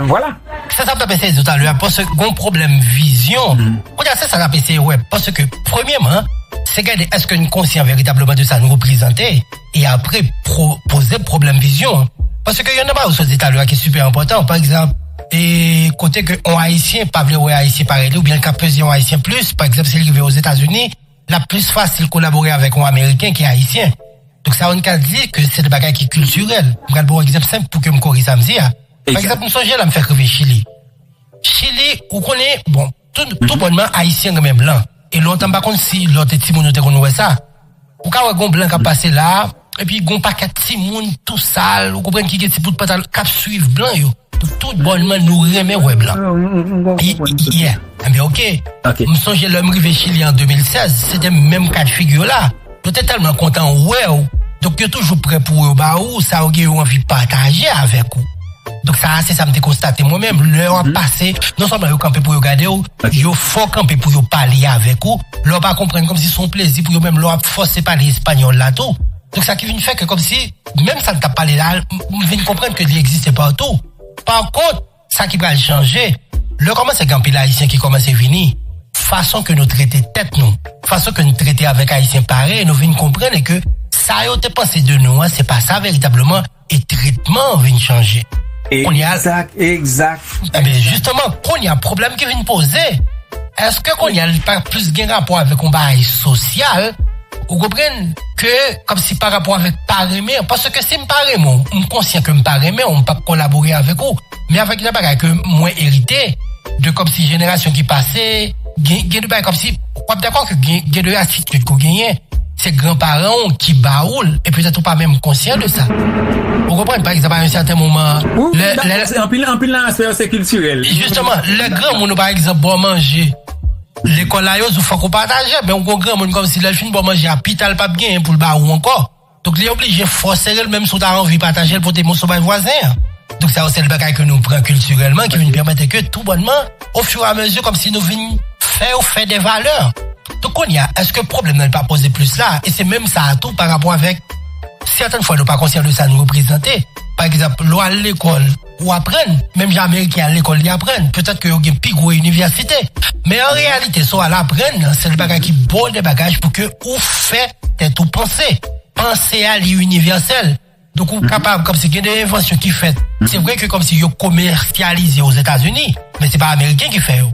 vwala. Se sa m t ap eseye di w talè a paske gon pwoblèm vizyon. Kounye a se sa n ap eseye wè paske premyeman se gade èske n konsyan veritableman de sa n reprezante e apre poze pwoblèm vizyon an. Paske yon nan bagay ou sot di talè a ki sipè enpòtan pa egzanp e kote ke yon ayisyen pa vle wè ayisyen parèy li oubyen l ka peze yon ayisyen plis pa egzanp si l rive ozetazini l ap plis fasil kolabore avèk yon ameriken ki ayisyen. Donk sa yo n ka di ke se de bagay ki kiltirèl. M pral ba w egzanp senp pou ke m kore sa m di a. Pa egzanp m sonje lè m fèk rive Chili. Chili, ou konnen, bon, tou bònman Ayisyen renmen blan. E lontan m pa konn si lè w te timoun ou te konn wè sa. Ou ka wè gon blan k ap pase la a, epi gon pakèt timoun tou sal, ou konprann ki gen ti bout pantalon, k ap suiv blan yo. Tou bònman nou renmen wè blan. Enben oke, m sonje lè m rive Chili an 2016, se te menm ka de figi yo la. Yo te tèlman kontan wè ou, donk yo toujou prè pou yo ba ou sa yo gen yo anvi pataje avèk ou. Donk sa a se sa m te konstate mwen menm, lè w ap pase, non sèlman yo kanpe pou yo gade ou, yo fò kanpe pou yo pale avèk ou, lè w pa konprann kòmsi se yon plezi pou yo menm lè w ap fòse pale espanyòl la tou. Donk sa ki vin fè ke kòmsi menm sa n t ap pale la, m vin konprann ke li egziste patou. Pakont. Sa ki pral chanje, lè kòmanse gen anpil Ayisyen ki kòmanse vini, fason ke nou trete tèt nou, fason ke n trete avèk Ayisyen parèy nou vin konprann e ke sa yo te panse de nou an se pa sa veritableman e tretman an vin chanje. Kounye a. Egzak, egzak. Enben, jisteman, kounye a pwoblèm ki vin poze, èske kounye a li pa plis gen rapò avèk yon bagay sosyal? Ou konprann ke kòmsi pa rapò avèk pa renmen an, paske si m pa renmen w, m konsyan ke m pa renmen w, m p ap kolabore avèk ou. Men avèk yon bagay ke mwen erite de kòmsi jenerasyon ki pase, gen gen de bagay kòmsi w ap dakò ke gen gen de atitid ke w genyen se gran paran w ki ba ou l e petèt ou pa menm konsyan de sa. Ou konprann? Pa egzanp a yon sèten moman an, Wi, wi, m dakò, se anpil anpil nan aspè yo se kiltirèl. Jisteman, lè granmoun ou pa egzanp ba w manje. Lekòl la yo zou fòk ou pataje men ou gon granmoun kòmsi lèl fin baw manje a pital pap genyen poul ba ou ankò donk li oblije fòserel menm si ou ta anvi patajel pote moso bay vwazen an donk sa yo se lbagay ke nou pran kiltirèlman ki vin pèmete ke tou bònman ofiramezi kòmsi nou vin fè yo fè dè valè donk kounya eske pwoblèm nan li pa poze plis la e se menm sa a tou parapò avèk sètèn fwa nou pa konsyan de sa nou reprezante pa egzanp lè wal lekòl. ou aprann, menm jan Ameriken al lekòl li aprann, petèt ke yo gen pi gwo inivèsite. Men an reyalite, sa w al aprann nan sèl bagay ki bon de bagaj pou ke ou fè tèt ou panse. Panse a li inivèsèl. Donk ou kapab, kòmsi gen de envansyon ki fèt, se vre ke kòmsi yo komèsyalize o Zetazini, men se pa Ameriken ki fè yo.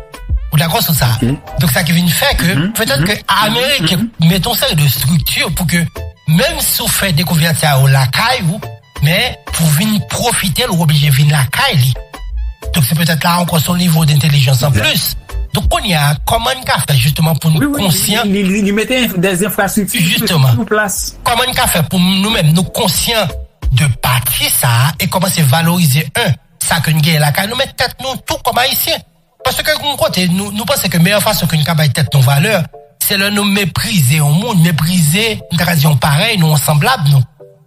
Ou dakò sou sa? Donk sa ki vin fè ke, petèt ke Ameriken mete yon seri de estrikti pou ke menm si w fè dekouvèt sa yo lakay ou, Men, pou vin pwofite l ou oblije vin lakay li. Donk se petèt la ankò se yon nivo dentelijans an plis. Donk kounye a, kòman n ka fè jisteman pou n konsyan. Wi, wi, li mete dè enfrastrikti sou plas. Kòman n ka fè pou nou menm nou konsyan de pati sa a e kòmanse valorize 1 sa ke n genyen lakay nou men tèt nou tou kòm Ayisyen. Paske gen yon kote nou panse ke meyè fason ke nou ka bay tèt nou valè, se lè nou meprize yon moun, meprize, m ta ka di yon parèy nou, yon sanblab nou.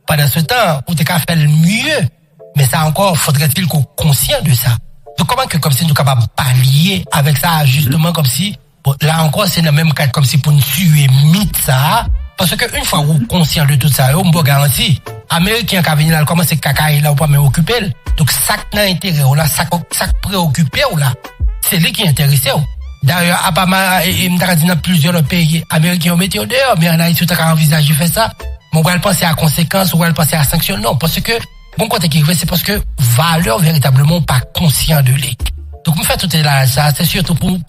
Pandan se tan, ou te ka fè l mye. Men sa ankò, fodrè-t-il ke w konsyan de sa. Donk kòman ke kòmsi nou kapab palye avèk sa jisteman kòmsi, Bon, la ankò se nan menm kad kòmsi pou n tiye mit sa a, paske yn fwa wou konsyan de tout sa yo, m ba w garanti, ameriken an ka vini la l kòmanse kakaye la ou pa menm okipe l, donk sa k nan enterè w la, sa k preyokipe w la, se li ki enterese w. Dayè, apa ma, e m ta ka di nan plizyè lòt peyi, ameriken yo mete yo deyò, men an Ayiti ou ta ka anvizaje fè sa, men w pral panse a konsekans, ou pral panse a sanksyon, non, paske. Bon kote ki vre se paske valeur veritableman ou pa konsyan de li. Donk m fè tout elaraj sa se sitou pou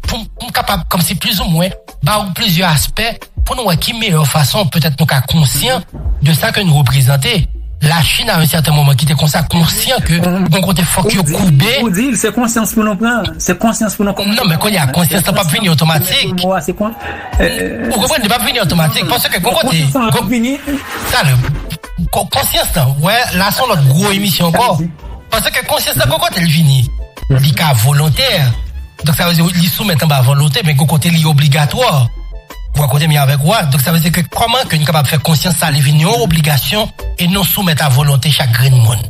pou m kapab komsi plis ou mwen ba ou plizyè aspè pou nou wè ki meyè fason petèt nou ka konsyan de sa ke nou reprezante. La Chine a yon sèten moman ki te konsa konsyan ke bon kote fok yo koube. Ou di l se konsyans pou nou pran, se konsyans pou nou komanse pran. Non men kounye a konsyans lan pap vini otomatik. Ou konprann li pap vini otomatik paske bon kote. Sa vini. Sa vini. Konsyans lan, wè la son lòt gwo emisyon ankò, paske konsyans lan gwo kote li vini, li ka volontè, donk sa vle di li soumèt anba volonte men gwo kote li obligatwa, wè kote m ye avèk ou a, donk sa vle di ke kòman ke nou kapab fè konsyans sa li vin yon obligasyon e non soumèt a volonte chak grenn moun.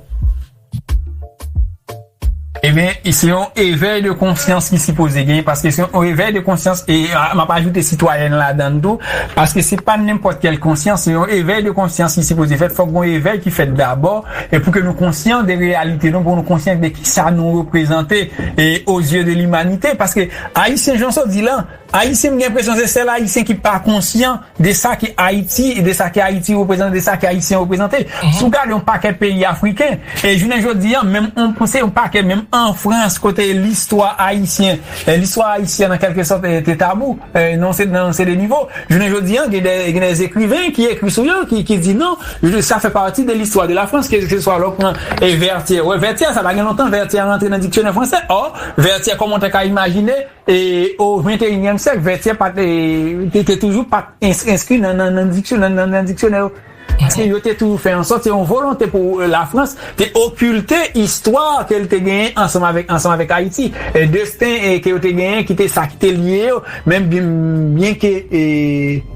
Ebyen se yon evèy de konsyans ki sipoze gen paske se yon evèy de konsyans e m ap ajoute sitwayèn ladan tou paske se pa nenpòt kèl konsyans se yon evèy de konsyans ki sipoze fèt fòk gon evèy ki fèt dabò e pou ke nou konsyan de reyalite nou pou nou konsyan de kisa nou reprezante e ozye de limanite paske ayisyen jan w di la ayisyen m gen enpresyon se sèl ayisyen ki pa konsyan de sa ke Ayiti, de sa ke Ayiti reprezante, de sa ke Ayisyen reprezante. Si w gade yon pakèt peyi Afriken, e jounen jodi an, menm yon panse yon pakèt, menm an Frans, kote listwa Ayisyen, listwa Ayisyen an kèlke sòt te tabou, nan yon seri de nivo, jounen jodi an, gen dè, gen dè ekriven ki ekri sou yo, ki di non, sa fè pati de listwa de la Frans, ke se swa lè w pran Vètyè, wè Vètyè, sa pa gen lontan Vètyè rantre nan diksyonè fransè, ò, Vètyè kòman w ta ka imajine. E o venteyinyèm syèk, vètyè pa te, te toujou pa enskri nan nan diksyonè yo. Paske yo te toujou fè ansòt, se yon volonte pou Lafrans te okilte istwa ke li te genyen ansanm avèk ansanm avèk Ayiti, desten ke yo te genyen ki te sa ki te lye yo, menm byenke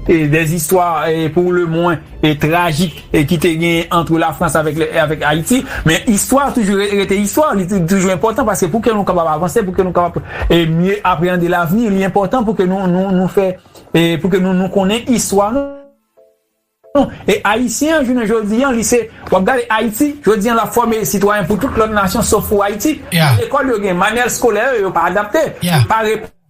des istwa pou lemwen. e trajik e ki te genyen antre Lafrans avèk e avèk Ayiti, men istwa a toujou rete istwa, li toujou enpòtan paske pou ke nou kapab avanse, pou ke nou kapab e mye apreyande lavni, li enpòtan pou ke nou nou nou fè e pou ke nou nou konnen istwa nou. E Ayisyen an jounen jodi an li se, w ap gade Ayiti, jodi an l ap fòme sitwayen pou tout lòt nasyon sof pou Ayiti, men lekòl yo gen manyèl skolè yo, yo pa adapte, yo pa.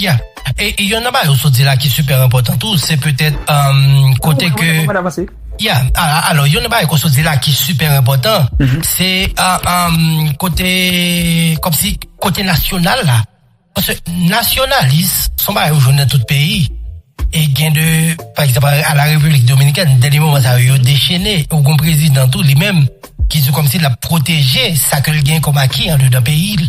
Ya, e yonn nan bagay ou sot di la ki sipè enpòtan tou, se petèt kote ke, ya, alò yonn nan bagay ke w sot di la ki sipè enpòtan, se kote, kòmsi, kote nasyonal la, paske nasyonalis, son bagay ou jwenn nan tout peyi. E gen de, pa egzanp, a la Repiblik Dominikèn, dènye moman sa yo, yo dechene, ou gon prezidan tou, li menm, ki di kòmsi l ap pwoteje sa ke l gen kòm aki andedan peyi l.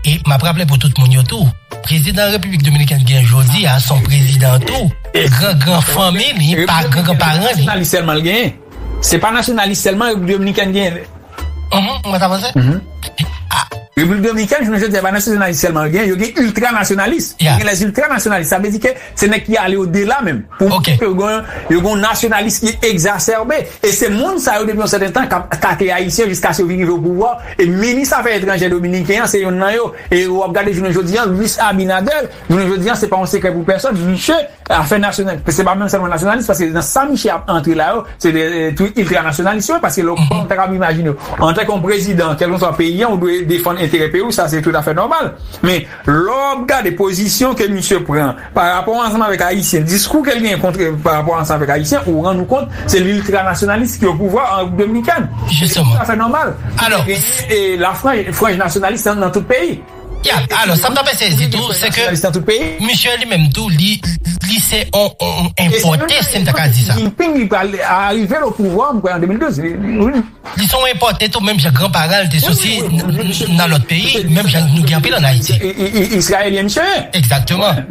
E m ap raple pou tout moun yo tou, prezidan Repiblik Dominikèn gen jodi a, s on prezidan tou, gran gran fanmi li, pa gran gran paran li. Nasyonalite sèlman l genyen. Se pa nasyonalis sèlman Repiblik Dominikèn genyen vre. Uhmm, mwen sa panse. Uhmm. Repiblik Dominikèn jounen jodi a se pa nasyonalis sèlman yo genyen, yo gen iltranasyonalist. Ya. Yo gen lè iltranasyonalist. Sa vle di ke se nèg ki ale odela menm. Pou montre ke yo gen yon, yo gen yon nasyonalis ki egzasèbe. E se moun sa yo depi yon sèten tan kap atake Ayisyen jiskaske yo vin rive opouvwa. E minis afè etranjè dominiken an se yonn nan yo. E ou ap gade jounen jodi a Luis Abinader. Jounen jodi a se pa yon sekrè pou pèsòn, misye afè nasyonal, se pa menm sèlman nasyonalis paske nan sa misye ap antre la yo se de twit iltra nasyonalis yo ye paske lè w kòm ta kab imajine w antanke yon prezidan kèlkeswa peyi an ou dwe defann enterè peyi w sa se tout afè nòmal men lè w ap gade pozisyon ke misye pran pa rapò ansanm avèk ayisyen diskou ke l genyen kont pa rapò ansanm avèk ayisyen ou rann ou kont se liltra nasyonalis ki opouvwa an repiblik dominikèn se tout afè nòmal e lafranj nasyonalis nan tout peyi. Yeah, alò sa m ta fè sezi tou se ke misye li menm tou li li se on on enpòte si m ta ka di sa. Li se on enpòte tou menm jan gran para l te soti nan lòt peyi menm jan nou gen anpil an Ayiti. Egzakteman.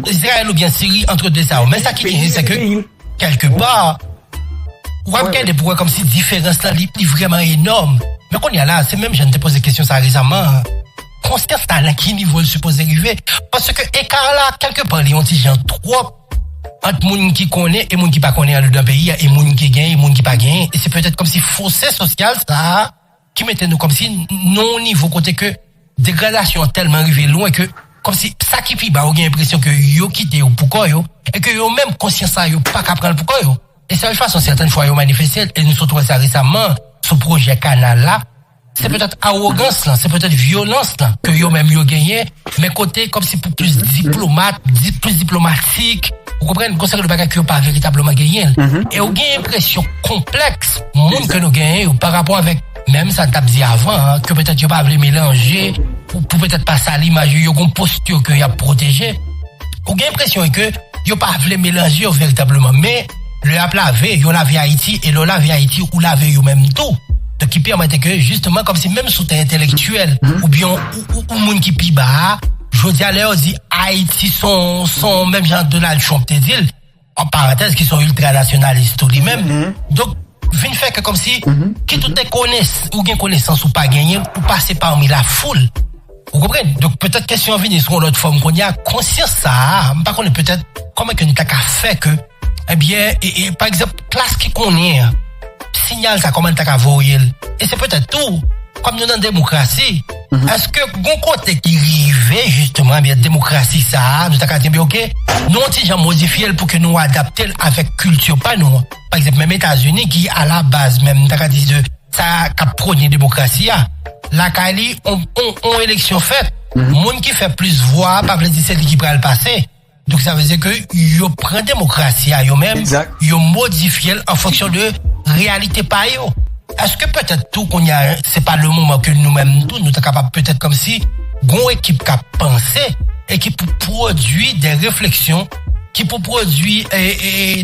Izrayèl oubyen Siri antre de sa yo men sa ki genyen se ke. Kèlke pa, ou ap gade pou wè kòmsi diferans la li vrèman enòm. Men kounye a la, se menm jan n te poze kesyon sa rezaman an, konsyans la nan ki nivo l sipoze rive? Paske eka la, kèlke pa li yon ti jan twòp ant moun ki konnen e moun ki pa konnen andedan peyi a, e moun ki genyen e moun ki pa genyen. E se petèt kòmsi fose sosyal sa a. ki mete nou kòmsi nan yon nivo kote ke degradasyon an tèlman rive lwen ke kòmsi sa ki pi ba ou gen enpresyon ke yo kite yo pou kò yo e ke yo menm konsyans sa yo pa ka pran l pou kò yo. E sèl fason sèten fwa yo manifeste l, e nou sot wè sa resamman sou pwojè kanal la, se petèt awogans lan, se petèt vyolans lan ke yo menm yo genyen Men kote kòm si pou plis diplomat, plis diplomatik, ou konprann, gon seri de bagay ke yo pa veritableman genyen. E ou gen enpresyon konplèks moun ke nou genyen yo pa rapò avèk menm sa n t ap di avan an, ke petèt yo pa vle melanje pou petèt pa sal imaj yo, yo gon postur ke y ap pwoteje. Ou gen enpresyon ke yo pa vle melanje yo veritableman men. Le ap lave, yo lave Ayiti e lè w lave Ayiti, ou lave yo menm tou. Donk ki pèmèt ke jisteman kòmsi menm sou tè entelektyèl oubyen ou moun ki pi ba a, jodi a lè yo di Ayiti s on, s on menm jan Donald Trump te di l, an parantèz ki s on iltranasyonalis tou li menm, donk vin fè ke kòmsi kit ou te konesans, ou gen konesans ou pa genyen, ou pase pami lafoul. Ou konprann? Donk petèt kesyon an vini sou yon lòt fòm kounye a, konsyans sa a, m pa konnen petèt kòman ke n ta ka fè ke, ebyen, e, pa egzanp, klas ki konnen an, sinyal sa a kòman li ta ka voye l. E se petèt tou, kòm nou nan demokrasi, èske gon kote ki rive jisteman, ebyen, demokrasi sa a, nou ta ka di, ebyen, oke, nou yon ti jan modifye l pou ke nou adapte l avèk kilti pa nou an? Pa egzanp, menm Etazini ki alabaz menm, nou ta ka di, de. sa kap prone demokrasi a lakay li on eleksyon fèt moun ki fè plis vwa pa vle di se li ki pral pase donk sa vle di ke yo pran demokrasi a yo menm yo modifye l an fonksyon de reyalite pa yo eske petèt tou kounye a se pa le moman ke nou menm tou nou ta kapab petèt kòmsi gon ekip kap panse e ki pou pwodui de refleksyon ki pou pwodwi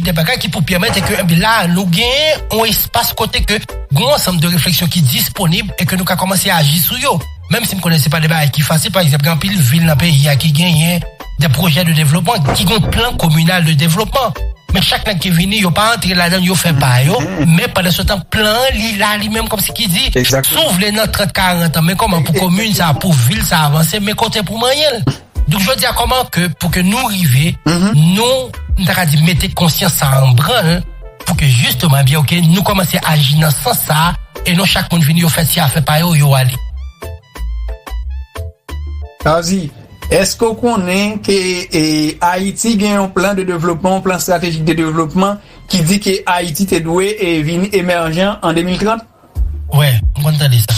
de bagay ki pou pèmèt e ke la nou genyen yon espas kote ke gen yon ansanm de refleksyon ki disponib e ke nou ka kòmanse aji sou yo. Menm si m konnen se pa de bagay ki fasil, pa egzanp gen anpil vil nan peyi a ki genyen de pwojè de devlopman, ki gen plan kominal de devlopman. Men chak nèg ki vini yo pa antre ladan l, yo fè pa yo, men pandan se tan plan an li la li menm kòmsi ki di si w vle nan 30, 40 an men kòman pou komin sa, pou vil sa avanse, men kote pou w manyen l. Donk jodi a kòman ke pou ke nou rive nou m ta ka di mete konsyans sa an branl pou ke jisteman ebyen ok nou kòmanse aji nan sans sa e non chak moun vini yo fè ti afè pa yo, yo ale. Sa vle di, èske w konnen ke Ayiti gen yon plan de devlopman, yon plan stratejik de devlopman ki di ke Ayiti te dwe vin emèjan an 2030? Wè, m konn tande sa.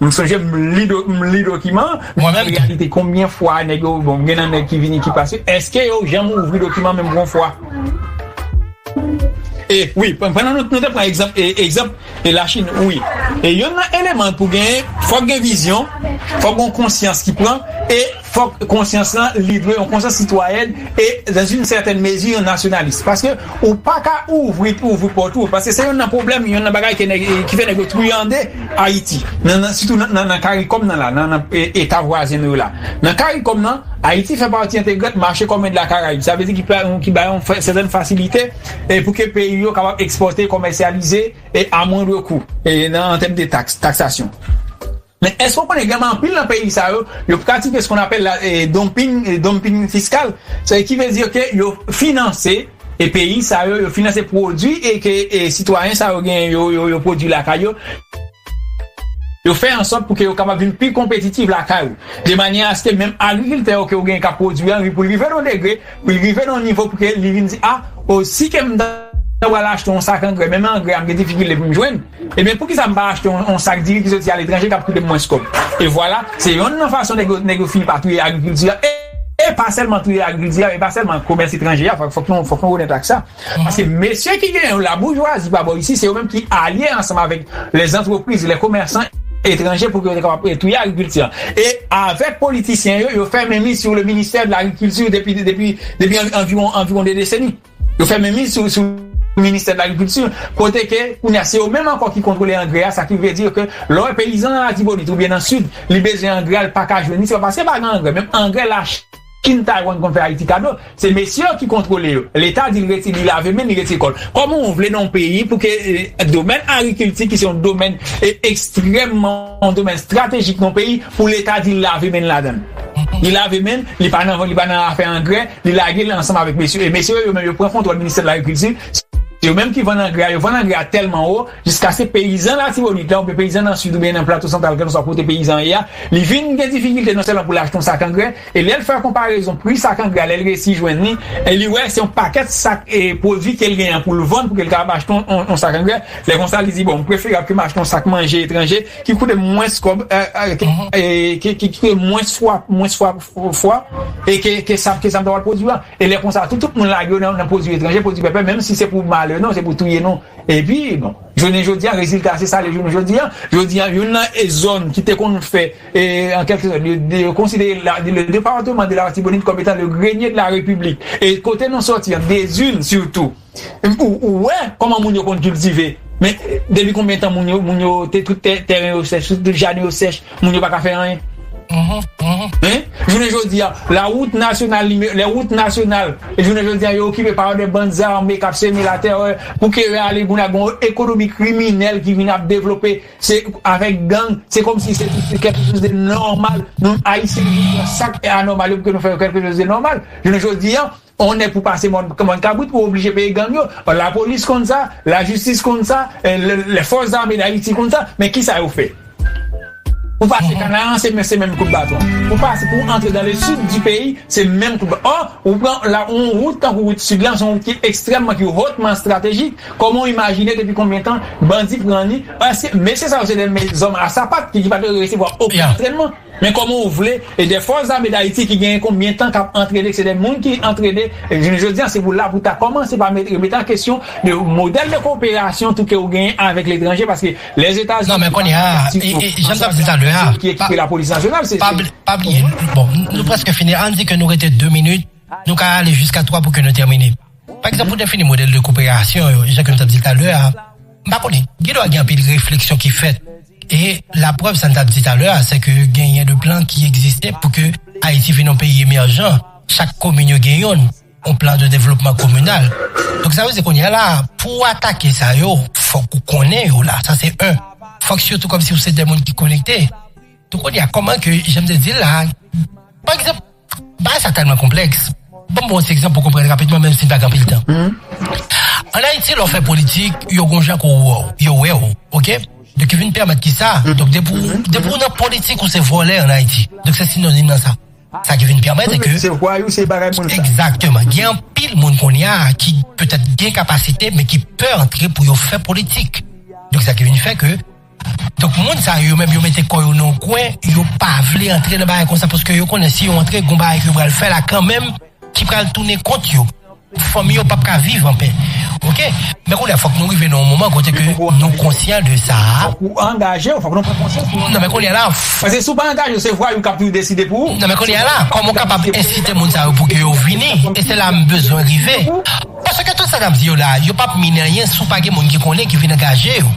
M sonje m li dokiman an men an reyalite konbyen fwa nèg yo bon gen nan nèg ki vini ki pase èske yo janm ouvri dokiman menm gon fwa e wi pandan nou te pran egzanp egzanp e lachin wi e yonn nan eleman pou genyen fòk gen vizyon fòk gon konsyans ki pran e. Fòk konsyans lan li dwe yon konsyans sitwayèn e dan yn sètèn mezi yon nasyonalis paske ou paka ouvri pou ouvri pòt ou paske se yonn nan pwoblèm yonn nan bagay ke nèg ki fè nèg yo triyande ayiti nan nan sitou nan nan karikòm nan la nan nan eta vwazen nou yo la nan karikòm nan ayiti fè pati entegrant mache kòmen de la karayib sa vle di ki pa yon ki ba yon fè sètèn fasilite e pou ke peyi yo kapab ekspòte komèsyalize e a mwandre kou e nan an tèm de taks taksasyon. Men èske w konnen gen anpil nan peyi sa yo, yo pratike skonn apèl la dumping, dumping fiscal, se ki vle di ke yo finanse e peyi sa yo, yo finanse pwodwi e ke sitwayen sa yo genyen yo, yo pwodwi lakay yo, yo fè ansòt pou ke yo kapab vin pi konpetitif lakay ou, de manyè aske menm agrikiltè ou ke ou genyen kap pwodwi an, pou l rive nan yon degre, pou l rive nan yon nivo pou ke li vin di a, o si ke m ta pral achte yon sak angrè, menm angrè a m gen difikilte pou m jwenn. Ebyen poukisa m pa achte yon sak diri ki soti aletranje kap koute m mwens kòb? E vwala, se yonn nan fason nèg yo nèg yo fini pa touye agrikilti a e pa sèlman touye agrikilti a e pa sèlman komès etranje a fòk nou fòk nou onèt ak sa paske mesye ki gen yo laboujwazi pa bò isi se yo menm ki alye ansanm avèk lèzantrepriz lèkomèsan etranje pou ke yo te kapab touye agrikilti a e avèk politisyen yo yo fè menmis sou le ministè de lagrikilti depi depi depi anviwon anviwon 2 deseni. Yo fè menmiz sou sou ministè de lagrikilti kote ke kounye a se yo menm ankò ki kontwole angrè a sa ki vle di ke lè w wè peyizan nan Latibonit oubyen nan Sid li bezwen angrè a li pa ka jwenn li se pa paske pa gen angrè menm angrè Lachin Taywann konn fè Ayiti kado se mesye yo ki kontwole yo leta di l rete li lave men li retire kò l kòman w vle nan yon peyi pou ke domèn agrikilti ki se yon domèn ekstrèmman yon domèn estratejik nan yon peyi pou leta di l lave men l ladan l li lave men l li pa nan afè angrè Li lage li ansanm avèk mesye yo e mesye yo yo menm yo pran kontwòl ministè de lagrikilti, se yo menm ki vann angrè a, yo vann angrè a tèlman wo jiskaske peyizan Latibonit la oubyen peyizan nan Sid oubyen nan Plato Santral kèlkeswa kote peyizan an ye a, li vin gen difikilte non sèlman pou l achte yon sak angrè e lè l fè konparezon pri sak angrè a lè l resi jwenn li e li wè se yon pakèt sak e pwodui ke l genyen an pou l vann pou ke l kapab achte yon sak angrè, lè konsa li di bon m preferab ke m achte yon sak manje etranje ki koute m mwens kòb e ki koute m mwens fwa. fwa e ke ke sa ke sa ta pral pwodwi an e lè konsa tou tout moun lage yo nan pwodwi etranje pwodwi pèpè menm si se pou malè nou se pou touye nou epi bon jounen jodi an rezilta se sa le jounen jodi an jodi an youn nan e zòn ki te konn fè e an kèlke sòt yo yo konsidere la le departeman de laratibonit kòm etan le grenye de la repiblik e kote nou sòti an dezin sitou. Ou wè kòman moun yo konn kiltive men depi konbyen tan moun yo moun yo te tout tèren yo sèch tout jaden yo sèch moun yo pa ka fè anyen hein jounen jodi a la route nationale numero les routes nationales jounen jodi a yo okipe pa de bann zame kap seme la terè pou ke yo ale moun a gon ekonomi kriminèl ki vin ap devlope se avèk gang se kòmsi se kèlke chose de nòmal nou ayisyen nou pran sak anormal yo pou ke nou fè yo kèlke chose de nòmal jounen jodi a. On nèg pou pase mòn kabrit ou oblije peye gang yo, lapolis konn sa, lajistis konn sa, lè fòs zame dayiti konn sa, men kisa yo fè? Pou pase kanaran se menm kout baton, pou pase pou antre dan le sid di peyi se menm kout baton, ò ou pran on wout tankou wout sid lan se yon wout ki ekstrèmman ki hotman estratejik, kòman ou imajine depi konbyen tan bandi pran li, eske mesye sa yo se de zòm a sapat ki pa te resevwa okenn antrènman? Men koman ou vle e de fòs zame dayiti ki genyen kon byen tan kap antrene se de moun ki antrene jounen jodi an se pou la pou ta koman se pa met remete an kesyon de modèl de koperasyon tou ke ou genyen avek letranje paske lè zeta zini non men kounye a e janm tap di talè a ki ekipe la polis nasyonal se se pa bliye bon nou preske fini an di ke nou rete 2 minit nou ka ale jiska 3 pou ke nou termine. Pa egzanp, pou defini modèl de koperasyon yo, jan ke m t ap di l talè a, m pa konnen, gendwa gen anpil refleksyon ki fèt. E, laprèv sa n t ap di talè a, se ke genyen de plan ki egziste pou ke Ayiti vin yon peyi emèjan, chak komin yo gen youn, yon plan de devlopman kominal. Donk, sa vle di kounye a la a, pou ou atake sa yo, fòk ou konnen yo la, sa se 1. Fòk sitou kòmsi ou se de moun ki konekte. Donk, kounye a, kòman ke, jan m te di l la a, pa egzanp. Bagay sa tèlman konplèks, ban m pran yon ti egzanp pou w konprann rapidman menm si n pa gen anpil tan. Ann Ayiti lè w fè politik, yo gen yon jan ke yo wè w, ok? Donk yo vin pèmèt kisa? Donk depi w, depi w nan politik ou se vòlè ann Ayiti. Donk se sinonim nan sa. Sa ki vin pèmèt se ke, egzakteman, gen anpil moun kounye a ki petèt gen kapasite men ki pè antre pou yo fè politik. Donk sa ki vin fè ke. Donk moun sa yo menm yo mete kò yo nan yon kwen, yo pa vle antre nan bagay konsa paske yo konnen si yo antre gon bagay ke yo pral fè la kanmenm ki pral tounen kont yo. Fanmi yo pap ka viv anpè. Ok, men kounye a fòk nou rive nan yon moman kote ke nou konsyan de sa a. Fòk ou angaje ou, fòk nou pran konsyans pou nou. Nan men kounye a la. Paske si ou pa angaje ou se vwayou kap tou deside pou ou. Nan men kounye a la, kòman ou kapab ensite moun sa yo pou ke yo vini? E se la m bezwen rive. Paske tout sa nap di yo la, yo pap minen anyen si w pa gen moun ki konnen ki vin angaje yo.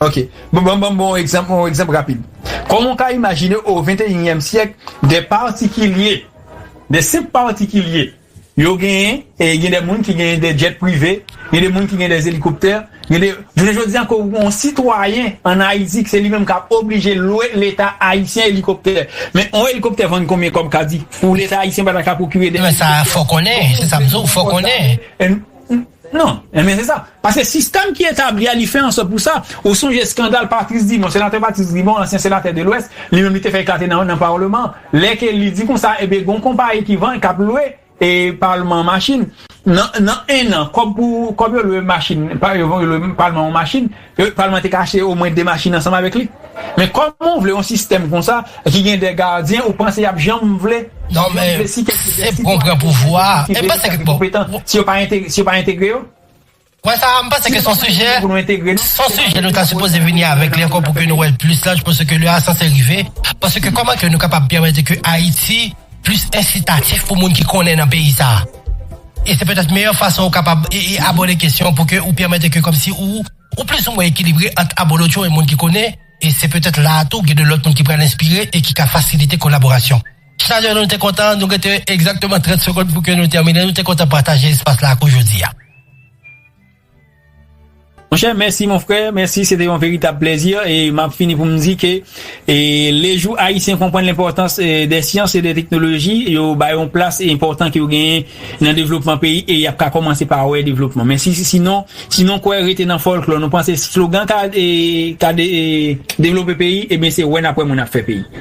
Ok. Bon, banm banm bon egzanp, yon egzanp rapid. Kòman ou ka imajine o venteyinyèm syèk de patikilye, de senp patikilye yo genyen, e gen de moun ki genyen de djèt prive, gen de moun ki genyen de elikoptè, gen de jounen jodi a ke ou gon sitwayen an Ayiti ke se li menm kap oblije lwe leta ayisyen elikoptè. Men yon elikoptè vann konbyen kòb kadi pou leta ayisyen pa ta ka pwokire de elikoptè? Men sa a fò konnen, se sa m di w, fò konnen. Non, enben se sa. Paske sistèm ki etabli a, li fè an sòt pou sa. Ou sonje eskandal Patrice Dumont, senatè Patrice Dumont, ansyen senatè de lwès, li menm li te fè eklate nan Parleman, lè ke li di konsa, enben gon konpayi ki vann, kap lwe e Palman machin. Nan nan 1 an, kòb pou kòb yo lwe machin, pa yo lwe Palman yon machin, Le palman te ka achte omwen 2 machin ansanm avèk li. Men kòman ou vle yon sistèm konsa ki gen 2 gadyen ou panse yap janm vle Non men se pou kon pran pouvwa a e panse ke bon si yo pa entegre si yo pa entegre yo Mwen sa a m panse ke son sijè son sijè nou ta sipoze vini avèk li ankò pou ke nou wè l plis laj pase ke lè a sanse rive pase ke kòman ke nou kapab pèmèt ke Ayiti plis ensitatif pou moun ki konnen nan peyi sa a. E se petèt meyè fason ou kapab abòde kesyon pou ke ou pèmèt ke kòmsi ou ou plis ou mwen ekilibre ant abolotcho e moun ki konnen, e se petèt la a tou gen de lòt moun ki pral enspire e ki ka fasilite kolaborasyon. Chalè nou te kontan, nou rete egzakteman 30 segond pou ke nou tèmine, nou te kontan pataje espas la ak ou jodi a. Monchè mèsi mon frè, mèsi se te yon veritab plèzi e map fini pou m di ke le jou ayisyen konprann lenpòtans dè syans e dè teknoloji yo ba yo yon plas enpòtan ke yo genyen nan devlopman peyi e yap ka kòmanse pa wè devlopman men si si non si nou kwè rete nan fòlklò nou panse slogan ka devlope peyi e ben se wè nap wè moun ap fè peyi.